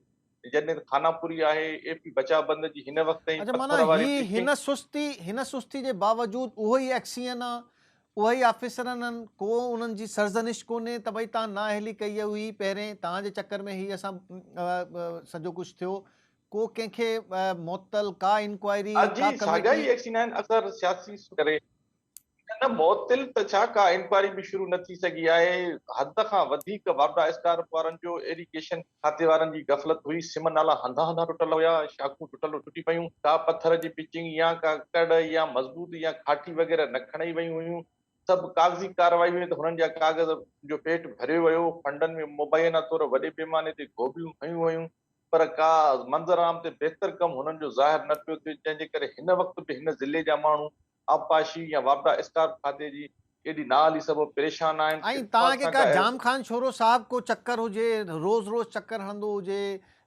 جڏهن خاناپوري آهي ايف پي بچاء بند جي هن وقت تائين اڇا معنيٰ هي هن سستي هن سستي جي باوجود اهو ئي ايڪسيئن آ اهي ئي آفيسر آهن، ڪو انهن جي سرزنش ڪونهي ته ڀئي تان نااهلي ڪئي هئي پهرين، تان جي چڪر ۾ هي اسان سڄو ڪجهه ٿيو، ڪو ڪنهن کي معطل، ڪا انڪوائري، ڪا ڪميٽي. اڄ جي ساڳيا ئي ايڪشن آهن، اثر سياسي سوچ ڪري. نه معطل ته ڇا ڪا انڪوائري به شروع نه ٿي سگهي آهي، حد کان وڌيڪ واپڊا اسڪارپ وارن جو ايريگيشن کاتي وارن جي غفلت هئي، سم نالا هنڌان هنڌان ٽٽل هيا، شاخون ٽٽل ٽٽي پيون، ڪا پٿر جي پچنگ يا ڪا ڪڙ يا مضبوط يا کاٽي وغيره نه کڻئي ويون هيون، سڀ ڪاغذي ڪارروائي هئي ته هنن جا ڪاغذ جو پيٽ ڀريو ويو، فنڊن ۾ مبينا طور وڏي پيماني تي گوڀيون هنيون ويون، پر ڪا منظر عام تي بهتر ڪم هنن جو ظاهر نه پيو ٿئي، جنهن جي ڪري هن وقت به هن ضلعي جا ماڻهو آبپاشي يا واپڊا اسڪارپ کاتي جي ايڏي نااهلي سبب پريشان آهن، ۽ اتفاق توهان کي سان ڪا ڪا اهڙي. جام خان شورو صاحب ڪو چڪر هجي روز روز چڪر هڻندو هجي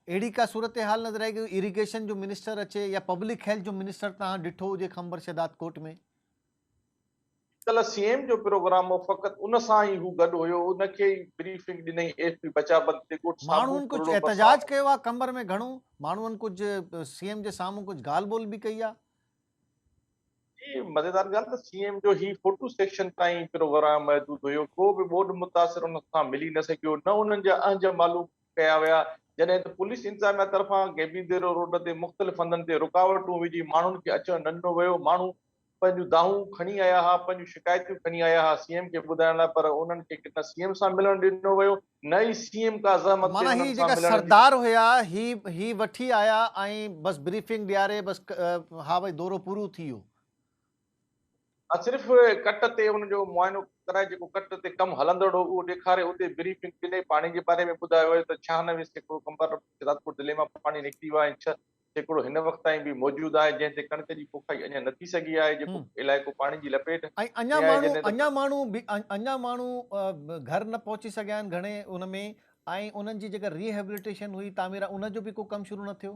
اهڙي ڪا صورتحال نظر آئي ڪو اريگيشن جو منسٽر اچي يا پبلڪ هيلٿ جو منسٽر توهان ڏٺو هجي خمبر شهداد ڪوٽ ۾؟ ڪلهه سي ايم جو پروگرام هو فقط ان سان ئي هو گڏ هيو ان کي ئي بريفنگ ڏنئي اي ايف پي بچا بند تي ڳوٺ ساڀو ماڻهن ڪجهه ڪرڙو برسات. احتجاج ڪيو آهي قمبر ۾ گهڻو ماڻهن ڪجهه سي ايم جي سامهون ڪجهه ڳالهه ٻولهه به ڪئي آهي جي مزيدار ڳالهه ته سي ايم جو هي فوٽو سيڪشن تائين پروگرام محدود هيو ڪو به ٻوڏ متاثر انهن سان ملي نه سگهيو نه انهن جا اهنج معلوم ڪيا ويا جڏهن ته پوليس انتظاميا طرفان گيبيديرو روڊ تي مختلف هنڌن تي رڪاوٽون وجهي ماڻهن کي اچڻ نه ڏنو ويو ماڻهو پنهنجون دانهون کڻي آيا ها پنهنجون شڪايتون کڻي آيا ها سي ايم کي ٻڌائڻ لاء پر انهن کي نه سي ايم سان ملڻ ڏنو ويو نه ئي سي ايم ڪا زحمت ڪئي معنيٰ هي جيڪا سردار هيا هي هي وٺي آيا ۽ بس بريفنگ ڏياري بس ها ڀاء دورو پورو ٿي ويو. صرف ڪٽ تي ان جو معائنو ڪرائي جيڪو ڪٽ تي ڪم هلندڙ هو اهو ڏيکاري اتي بريفنگ ڏني پاڻي جي باري ۾ ٻڌايو ويو ته ڇهانوي سيڪڙو ڪمبر رات ڪوٽ ضلعي مان پاڻي نڪري ويو آهي ۽ ڇهه سيڪڙو هن وقت تائين به موجود آهي، جنهن تي ڪڻڪ جي پوکائي اڃا نه ٿي سگهي آهي، جيڪو علائقو پاڻي جي لپيٽ ۽ اڃا ماڻهو اڃا ماڻهو اڃا ماڻهو گهر نه پهچي سگهيا آهن گهڻي ان ۾ ۽ انهن جي جيڪا ري هيبليٽيشن هئي تعميرات ان جو به ڪو ڪم شروع نه ٿيو؟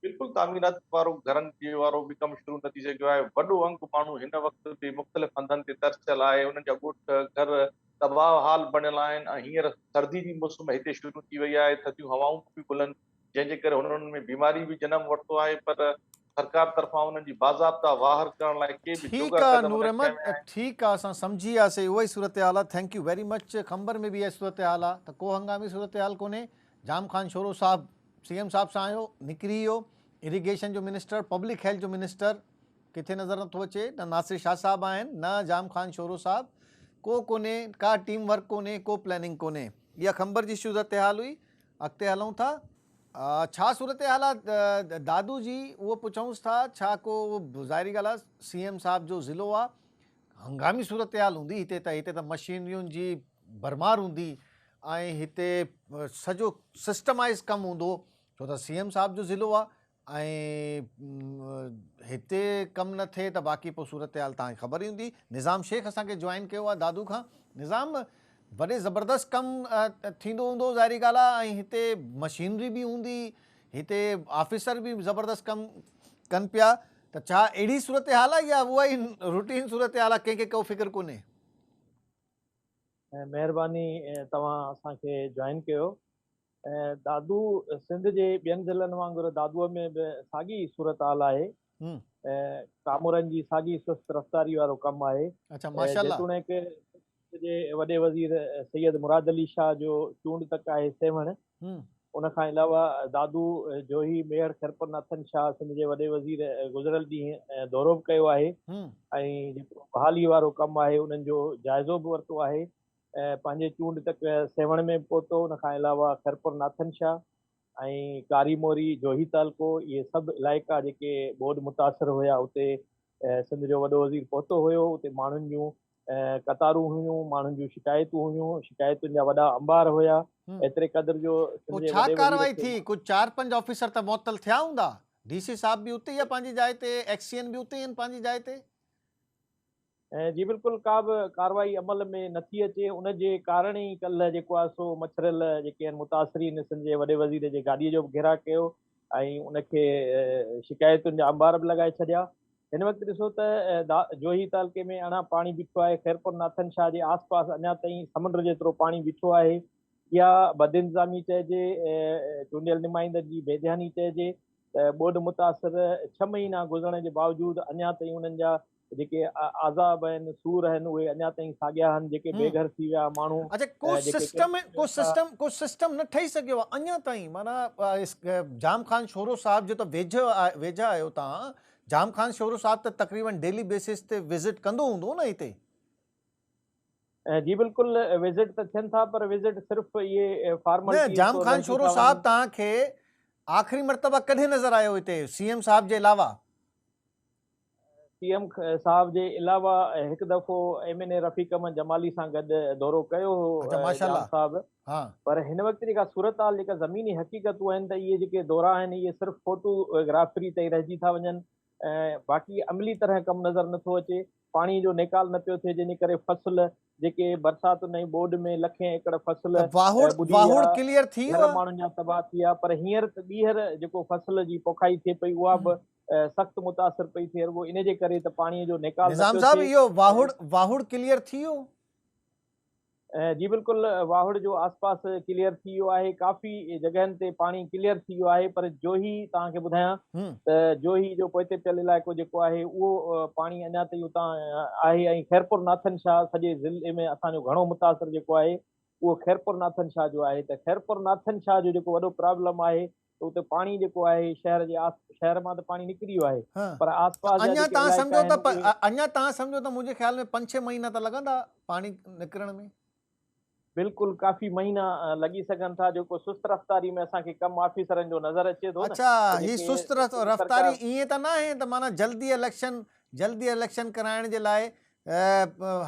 بلڪل تعميرات وارو گهرن جي وارو به ڪم شروع نه ٿي سگهيو آهي، وڏو انگ ماڻهو هن وقت به مختلف هنڌن تي ترسيل آهي، انهن جا ڳوٺ گهر تباهه حال بڻيل آهن ۽ هينئر سردي جي موسم هتي شروع ٿي وئي آهي، ٿڌيون هوائون به بلند جنهن جي ڪري هنن ۾ بيماري به جنم ورتو آهي پر سرڪار طرفان انهن جي باضابطا واهر ڪرڻ لاء ڪي به جوڳا قدم نه کنيا ويا آهن. ٺيڪ آ نور احمد ٺيڪ آ اسان سمجهي وياسي اهو ئي صورتحال آ thank you very much Khamber ۾ به اها ئي صورتحال آ ته ڪو هنگامي صورتحال ڪونهي جام خان شورو صاحب سي ايم صاحب سان آيو نڪري ويو اريگيشن جو منسٽر پبلڪ هيلٿ جو منسٽر ڪٿي نظر نٿو اچي نه ناصر شاهه صاحب آهن نه جام خان شورو صاحب ڪو ڪونهي ڪا ٽيم ورڪ ڪونهي ڪو پلاننگ ڪونهي اها خمبر جي صورتحال هئي اڳتي هلون ٿا. ڇا صورتحال آ دادو جي اهو پڇونس ٿا ڇا ڪو ظاهري ڳالهه آ سي ايم صاحب جو ضلعو آ هنگامي صورتحال هوندي هتي ته هتي ته مشينرين جي ڀرمار هوندي ۽ هتي سڄو سسٽمائز ڪم هوندو ڇو ته سي ايم صاحب جو ضلعو آ ۽ هتي ڪم نه ٿئي ته باقي پوء صورتحال توهان کي خبر ئي هوندي. نظام شيخ اسان کي جوائن ڪيو آهي دادو کان. نظام وڏي زبردست ڪم ٿيندو هوندو ظاهري ڳالهه آهي ۽ هتي مشينري به هوندي هتي آفيسر به زبردست ڪم ڪن پيا ته ڇا اهڙي صورتحال آهي يا اها ئي روٽين صورتحال آهي ڪنهن کي ڪو فڪر ڪونهي. مهرباني توهان اسان کي جوائن ڪيو. دادو سنڌ جي ٻين ضلعن وانگر دادوء ۾ به ساڳي ئي صورتحال آهي ۽ ڪامورن جي ساڳي سست رفتاري وارو ڪم آهي جيتوڻيڪ جي وڏي وزير سيد مراد علي شاهه جو چونڊ تڪ آهي سيوهڻ ان کان علاوه دادو جوهي ميهڙ خيرپور ناٿن شاهه سنڌ جي وڏي وزير گذريل ڏينهن دورو به ڪيو آهي ۽ جيڪو بحالي وارو ڪم آهي انهن جو جائزو به ورتو آهي ۽ پنهنجي چونڊ تڪ سيوهڻ ۾ به پهتو، ان کان علاوه خيرپور ناٿن شاهه ۽ ڪاري موري، جوهي تعلقو اهي سڀ علائقا جيڪي ٻوڏ متاثر هيا اتي سنڌ جو وڏو وزير پهتو هيو، اتي ماڻهن جون قطارون هيون، ماڻهن جون شڪايتون هيون، شڪايتن جا وڏا انبار هيا، ايتري قدر جو سنڌ جي وڏي وزير کي. پوء ڇا ڪارروائي ٿي؟ ڪجهه چار پنج آفيسر ته معطل ٿيا هوندا؟ ڊي سي صاحب به اتي ئي آهي پنهنجي جاء تي، ايڪس سي اين به اتي ئي آهن پنهنجي جاء تي. جي بلڪل ڪا به ڪارروائي عمل ۾ نٿي اچي ان جي ڪارڻ ئي ڪلهه جيڪو آهي سو مڇريل جيڪي آهن متاثرين سنڌ جي وڏي وزير جي گاڏي جو به گهيراء ڪيو ۽ ان کي شڪايتن جا انبار به لڳائي ڇڏيا هن وقت ڏسو ته جوهي تعلقي ۾ اڻا پاڻي بيٺو آهي خيرپور ناٿن شاهه جي آس پاس اڃا تائين سمنڊ جيترو پاڻي بيٺو آهي يا بدانتظامي چئجي چونڊيل نمائندن جي بي ڌياني چئجي ته ٻوڏ متاثر ڇهه مهينا گذرڻ جي باوجود اڃا تائين انهن جا جيڪي عذاب آهن، سور آهن، اهي اڃا تائين ساڳيا آهن، جيڪي بي گهر ٿي ويا ماڻهو اچا ڪو سسٽم ڪو سسٽم ڪو سسٽم نه ٺهي سگهيو آهي اڃا تائين معنيٰ جام خان شورو صاحب جو ته ويجهه ويجها آهيو توهان جام خان شورو صاحب ته تقريبن ڊيلي بيسس تي وزٽ ڪندو هوندو نه هتي جي بلڪل وزٽ ته ٿين ٿا پر وزٽ صرف اهي فارملٽي جام خان شورو صاحب توهان کي آخري مرتبه ڪڏهن نظر آيو هتي سي ايم صاحب جي علاوه پي ايم صاحب جي علاوه هڪ دفعو M N A Rafiq Ahmed Jamali سان گڏ دورو ڪيو هو جان صاحب پر هن وقت جيڪا صورتحال جيڪا زميني حقيقتون آهن ته اهي جيڪي دورا آهن اهي صرف فوٽو گرافري تائين رهجي ٿا وڃن باقي عملي طرح ڪم نظر نٿو اچي پاڻي جو نيڪال نه پيو ٿئي جنهن ڪري فصل جيڪي برساتن ۽ ٻوڏ ۾ لکين ايڪڙ فصل ماڻهن جا تباهه ٿي ويا پر هينئر ته ٻيهر جيڪو فصل جي پوکائي ٿئي پئي اها به سخت متاثر پئي ٿئي رڳو ان جي ڪري ته پاڻي جو نيڪال نه نظام صاحب اهو واهڙ واهڙ ڪليئر ٿي ويو جي بلڪل واهڙ جو آس پاس ڪليئر ٿي ويو آهي ڪافي جڳهن تي پاڻي ڪليئر ٿي ويو آهي پر جوهي توهان کي ٻڌايان ته جوهي جو پوئتي پيل علائقو جيڪو آهي اهو پاڻي اڃا تائين اتان آهي ۽ خيرپور ناٿن شاهه سڄي ضلعي ۾ اسان جو گهڻو متاثر جيڪو آهي اهو خيرپور ناٿن شاهه جو آهي ته خيرپور ناٿن شاهه جو جيڪو وڏو پرابلم آهي ته اتي پاڻي جيڪو آهي شهر جي آس شهر مان ته پاڻي نڪري ويو آهي پر آس پاس جا جيڪي علائقا آهن اهي اڃا تان سمجهو ته منهنجي خيال ۾ پنج ڇهه مهينا ته لڳندا پاڻي نڪرڻ ۾ بلڪل ڪافي مهينا لڳي سگهن ٿا جيڪو سست رفتاري ۾ اسان کي ڪم آفيسرن جو نظر اچي ٿو اڇا هي سست رفتاري ائين ته ناهي ته معنيٰ جلدي اليڪشن جلدي اليڪشن ڪرائڻ جي لاء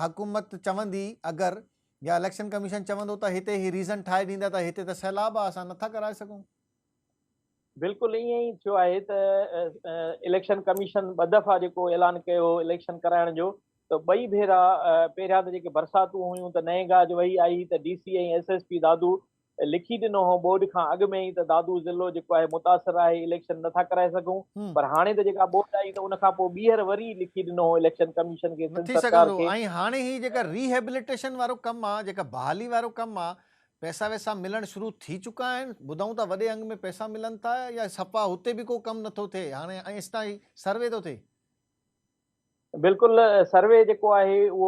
حڪومت چوندي اگر يا اليڪشن ڪميشن چوندو ته هتي هي ريزن ٺاهي ڏيندا ته هتي ته سيلاب آهي اسان نٿا ڪرائي سگهون. بلڪل ائين ئي ٿيو آهي ته اليڪشن ڪميشن ٻه دفعا جيڪو اعلان ڪيو هو اليڪشن ڪرائڻ جو ته ٻئي ڀيرا پهريان ته جيڪي برساتون هيون ته نئين گاج وهي آئي ته D C ۽ S S P Dadu لکي ڏنو هو ٻوڏ کان اڳ ۾ ئي ته دادو ضلعو جيڪو آهي متاثر آهي اليڪشن نه ٿا ڪرائي سگهون پر هاڻي ته جيڪا ٻوڏ آئي ته ان کانپوء ٻيهر وري لکي ڏنو هو اليڪشن ڪميشن کي سنڌ سرڪار کي. ۽ هاڻي هي جيڪا ري هيبليٽيشن وارو ڪم آ جيڪا بحالي وارو ڪم آ پئسا وئسا ملڻ شروع ٿي چڪا آهن ٻڌائون ٿا وڏي انگ ۾ پئسا ملن ٿا يا سفا هتي به ڪو ڪم نٿو ٿئي هاڻي ۽ ايستائين سروي ٿو ٿئي. بلڪل سروي جيڪو آهي اهو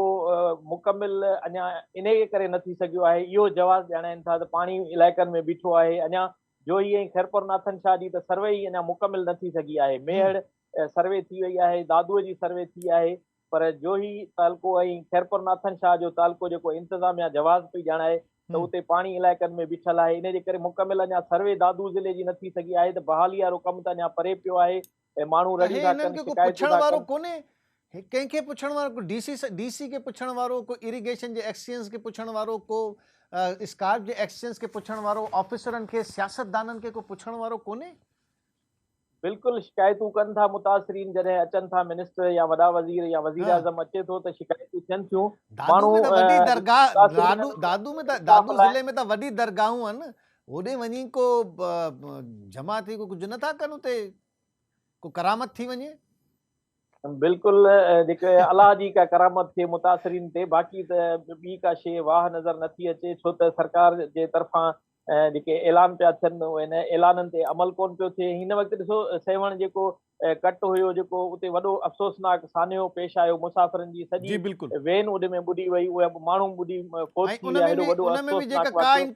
مڪمل اڃا انهي ڪري نه ٿي سگهيو آهي اهو جواز ڄاڻائين ٿا ته پاڻي علائقن ۾ بيٺو آهي اڃا جوهي ۽ خيرپور ناٿن شاهه جي ته سروي ئي اڃا مڪمل نه ٿي سگهي آهي ميهڙ سروي ٿي وئي آهي دادوء جي سروي ٿي آهي پر جوهي تعلقو ۽ خيرپور ناٿن شاهه جو تعلقو جيڪو انتظاميا جواز پئي ڄاڻائي ته اتي پاڻي علائقن ۾ بيٺل آهي انهي جي ڪري مڪمل اڃا سروي دادو ضلعي جي نه ٿي سگهي آهي ته بحالي وارو ڪم ته اڃا پري پيو آهي ڪنهن انهن کي ڪو پڇڻ وارو ڪونهي ڪنهن کي پڇڻ وارو ڪو ڊي سي ڊي سي کي پڇڻ وارو ڪو اريگيشن جي ايڪسچينج کي پڇڻ وارو ڪو اسڪارپ جي ايڪسچينج کي پڇڻ وارو آفيسرن کي سياستدانن کي ڪو پڇڻ وارو ڪونهي. بلڪل شڪايتون ڪن ٿا متاثرين جڏهن اچن ٿا منسٽر يا وڏا وزير يا وزير اعظم اچي ٿو ته شڪايتون ٿين ٿيون ماڻهو دادو ۾ ته وڏي درگاهون آهن هوڏي وڃي ڪو جمع ٿي ڪو ڪجهه نه ٿا ڪن اتي ڪو ڪرامت ٿي وڃي بلڪل جيڪي الله جي ڪا ڪرامت ٿئي متاثرين تي باقي ته ٻي ڪا شيء واهه نظر نه ٿي اچي ڇو ته سرڪار جي طرفان جيڪي اعلان پيا ٿين اهي نه اعلانن تي عمل ڪون پيو ٿئي هن وقت ڏسو سيوهڻ جيڪو ڪٽ هيو جيڪو اتي وڏو افسوسناڪ سانحو پيش آيو مسافرن جي سڄي وين اڏ ۾ ٻڏي وئي اهي ماڻهو ٻڏي فوت ٿي ويا هيڏو وڏو افسوسناڪ واقعو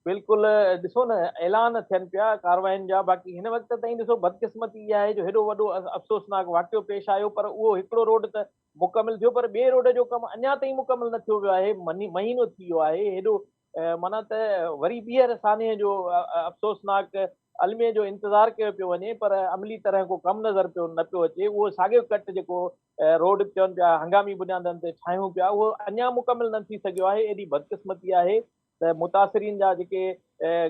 بلڪل ڏسو نه اعلان ٿين پيا ڪارواين جا باقي هن وقت تائين ڏسو بدقسمتي اها آهي جو هيڏو وڏو افسوسناڪ واقعو پيش آيو پر اهو هڪڙو روڊ ته مڪمل ٿيو پر ٻئي روڊ جو ڪم اڃا تائين مڪمل نه ٿيو ويو آهي مهينو ٿي ويو آهي هيڏو معنيٰ ته وري ٻيهر سانحي جو افسوسناڪ الميي جو انتظار ڪيو پيو وڃي پر عملي طرح ڪو ڪم نظر پيو نه پيو اچي اهو ساڳيو ڪٽ جيڪو روڊ چون پيا هنگامي بنيادن تي ٺاهيون پيا اهو اڃا مڪمل نه ٿي سگهيو آهي ايڏي بدقسمتي آهي ته متاثرين جا جيڪي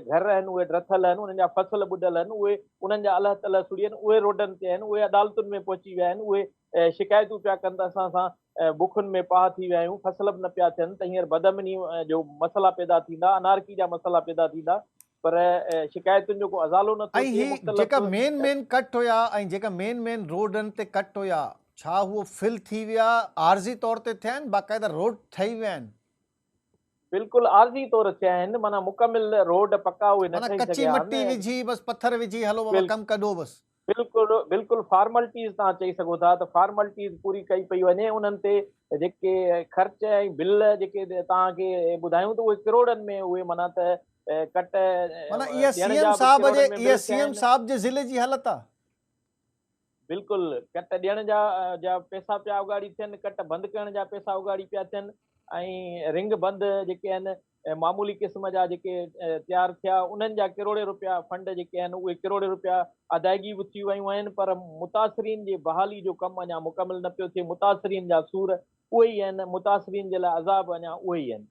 گهر آهن اهي ڊٿل آهن انهن جا فصل ٻڏل آهن اهي انهن جا الهه تلهه سڙي آهن اهي روڊن تي آهن اهي عدالتن ۾ پهچي ويا آهن اهي شڪايتون پيا ڪن ته اسان سان بکن ۾ پاهه ٿي ويا آهيون، فصل به نه پيا ٿين ته هينئر بدامنيء جو مسئلا پيدا ٿيندا، انارڪي جا مسئلا پيدا ٿيندا پر شڪايتن جو ڪو ازالو نه ٿيو ٿئي، مختلف. ۽ هي جيڪا مين مين ڪٽ هيا ۽ جيڪا مين مين روڊن تي ڪٽ هيا ڇا هو فل ٿي ويا، عارضي طور تي ٿيا آهن، باقاعده روڊ ٺهي ويا آهن؟ بلڪل عارضي طور ٿيا آهن، معنيٰ مڪمل روڊ پڪا اهي نه معنيٰ ٺهي ڪچي سگهيا آهن. مٽي وجهي بس پٿر وجهي هلو بابا ڪم ڪڍو بس. بلڪل بلڪل فارملٽيز تان چئي سگهو ٿا ته فارملٽيز پوري ڪئي پئي وڃي انهن تي جيڪي خرچ ۽ بل جيڪي توهان کي ٻڌايون ته اهي ڪروڙن ۾ اهي معنيٰ ته ڪٽ معنيٰ اها سي ايم صاحب جي اها سي ايم صاحب جي ضلعي جي حالت آهي. بلڪل ڪٽ ڏيڻ جا جا پئسا پيا اوڳاڙي ٿين ڪٽ بند ڪرڻ جا پئسا اوڳاڙي پيا ٿين ۽ رنگ بند جيڪي آهن ۽ معمولي قسم جا جيڪي تيار ٿيا انهن جا ڪروڙين روپيا فنڊ جيڪي آهن اهي ڪروڙين روپيا ادائگي به ٿي ويون آهن پر متاثرين جي بحالي جو ڪم اڃا مڪمل نه پيو ٿئي متاثرين جا سور اهي ئي آهن متاثرين جي لاء عذاب اڃا اهي ئي آهن.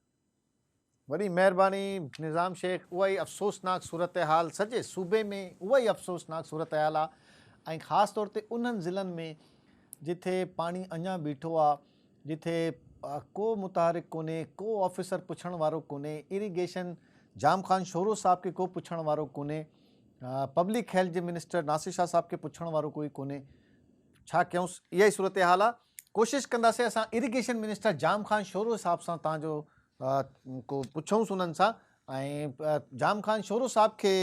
وڏي مهرباني نظام شيخ اها ئي افسوسناڪ صورتحال سڄي صوبي ۾ اها ئي افسوسناڪ صورتحال آهي ۽ خاص طور تي انهن ضلعن ۾ جتي پاڻي اڃا بيٺو آهي جتي ڪو متحرڪ ڪونهي، ڪو آفيسر پڇڻ وارو ڪونهي، اري گيشن جام خان شورو صاحب کي ڪو پڇڻ وارو ڪونهي، پبلڪ هيلٿ جي منسٽر ناصر شاهه صاحب کي پڇڻ وارو ڪوئي ڪونهي، ڇا ڪيونس اها ئي صورتحال آ. ڪوشش ڪنداسين اسان irrigation minister Jam Khan Shoro صاحب سان تان جو ڪو پڇونس انهن سان ۽ جام خان شورو صاحب کي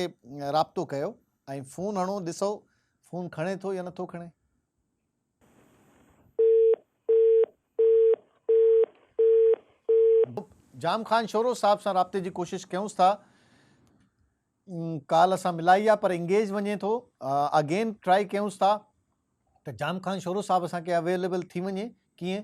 رابطو ڪيو ۽ فون هڻو ڏسو فون کڻي ٿو يا نٿو کڻي. جام خان شورو صاحب سان رابطي جي ڪوشش ڪيونس ٿا ڪال اسان ملائي آ پر انگيج وڃي ٿو اگين ٽرائي ڪيونس ٿا ته جام خان شورو صاحب اسان کي اويليبل ٿي وڃي ڪيئن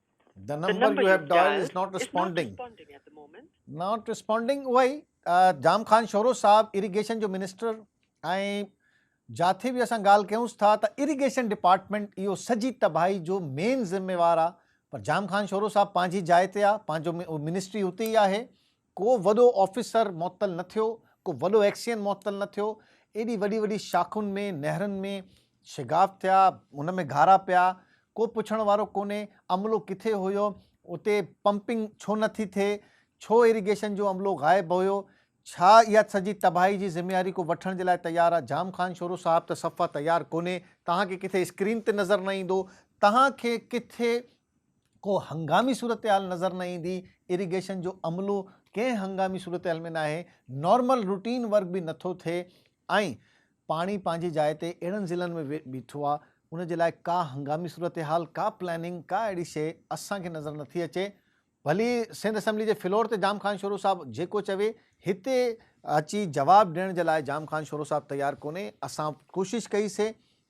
The number you have dialed is not responding. Not responding اهو ئي جام خان شورو صاحب اريگيشن جو منسٽر ۽ جاٿي به اسان ڳالهه ڪيونس ٿا ته اريگيشن ڊپارٽمنٽ اهو سڄي تباهي جو مين ذميوار آ پر جام خان شورو صاحب پنهنجي جاء تي آ پنهنجو منسٽري اتي ئي آهي ڪو وڏو آفيسر معطل نه ٿيو، ڪو وڏو ايڪسين معطل نه ٿيو، ايڏي وڏي وڏي شاخن ۾ نهرن ۾ شگاف ٿيا، ان ۾ گهارا پيا، ڪو پڇڻ وارو ڪونهي، عملو ڪٿي هيو، اتي پمپنگ ڇو نه ٿي ٿئي، ڇو ايريگيشن جو عملو غائب هيو، ڇا اها سڄي تباهي جي ذميواري ڪو وٺڻ جي لاء تيار آ، جام خان شورو صاحب ته صفا تيار ڪونهي، توهان کي ڪٿي اسڪرين تي نظر نه ايندو، توهان کي ڪٿي ڪو هنگامي صورتحال نظر نه ايندي، اريگيشن جو عملو ڪنهن هنگامي صورتحال ۾ ناهي، نارمل روٽين ورڪ به نٿو ٿئي ۽ پاڻي پنهنجي جاء تي اهڙن ضلعن ۾ بيٺو آ، ان جي لاء ڪا هنگامي صورتحال، ڪا پلاننگ، ڪا اهڙي شيء اسان کي نظر نٿي اچي. ڀلي سنڌ اسيمبلي جي فلور تي جام خان شورو صاحب جيڪو چوي، هتي اچي جواب ڏيڻ جي لاء جام خان شورو صاحب تيار ڪونهي، اسان ڪوشش ڪئي سي،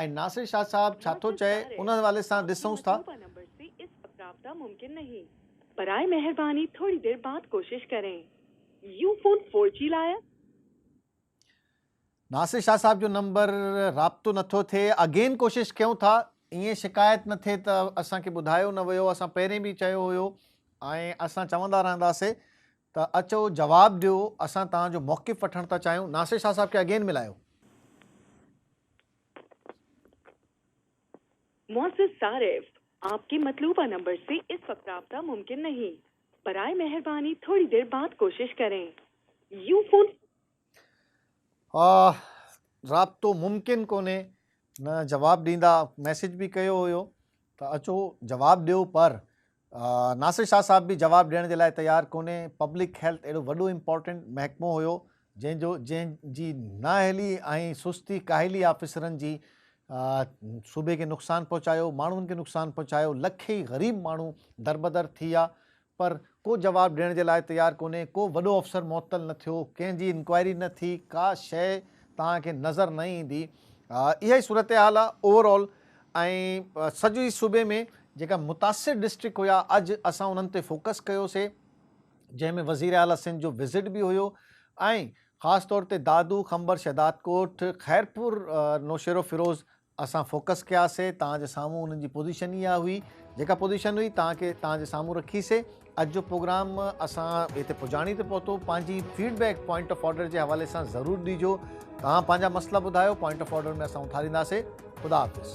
۽ ناصر شاهه صاحب ڇا ٿو چئي ان حوالي سان ڏسونس ٿا. رابطا ممڪن نهين. براء مهرباني ٿوري دير بعد ڪوشش ڪرين. يو فون فور جي لاء آهي. ناصر شاهه صاحب جو نمبر رابطو نٿو ٿئي اگين ڪوشش ڪيون ٿا ائين شڪايت نه ٿئي ته اسان کي ٻڌايو نه ويو اسان پهرين به چيو هيو ۽ اسان چوندا رهنداسي ته اچو جواب ڏيو اسان توهان جو موقف وٺڻ ٿا چاهيون ناصر شاهه صاحب کي اگين ملايو. معزز صارف آپ ڪي مطلوبه نمبر سي اس وقت رابطه ممڪن نهين برائي مهرباني ٿوڙي دير بعد ڪوشش ڪرين يو فون. رابطو ممڪن ڪونهي نه جواب ڏيندا ميسج به ڪيو هيو ته اچو جواب ڏيو پر ناصر شاهه صاحب به جواب ڏيڻ جي لاء تيار ڪونهي پبلڪ هيلٿ اهڙو وڏو امپورٽنٽ محڪمو هيو جنهن جو جنهن جي نااهلي ۽ سستي ڪاهلي آفيسرن جي صوبي کي نقصان پهچايو ماڻهن کي نقصان پهچايو لکين غريب ماڻهو دربدر ٿي ويا پر ڪو جواب ڏيڻ جي لاء تيار ڪونهي، ڪو وڏو افسر معطل نه ٿيو، ڪنهن جي انڪوائري نه ٿي، ڪا شيء توهان کي نظر نه ايندي. اها ئي صورتحال آهي اوور آل ۽ سڄي صوبي ۾ جيڪا متاثر ڊسٽرڪٽ هيا اڄ اسان انهن تي فوڪس ڪيوسي جنهن ۾ وزير اعليٰ سنڌ جو وزٽ به هيو ۽ خاص طور تي دادو، خمبر، شهدادڪوٽ، خيرپور، نوشهروفيروز اسان فوڪس ڪيا سي تان جي سامهون انهن جي پوزيشن ئي اها هئي جيڪا پوزيشن هئي تان کي تان جي سامهون رکي سي اڄ جو پروگرام اسان هتي پڄاڻي تي پهتو پنهنجي feedback point of order جي حوالي سان ضرور ڏيجو تان پنهنجا مسئلا ٻڌايو پوائنٽ آف آرڊر ۾ اسان اٿاريندا سي خدا حافظ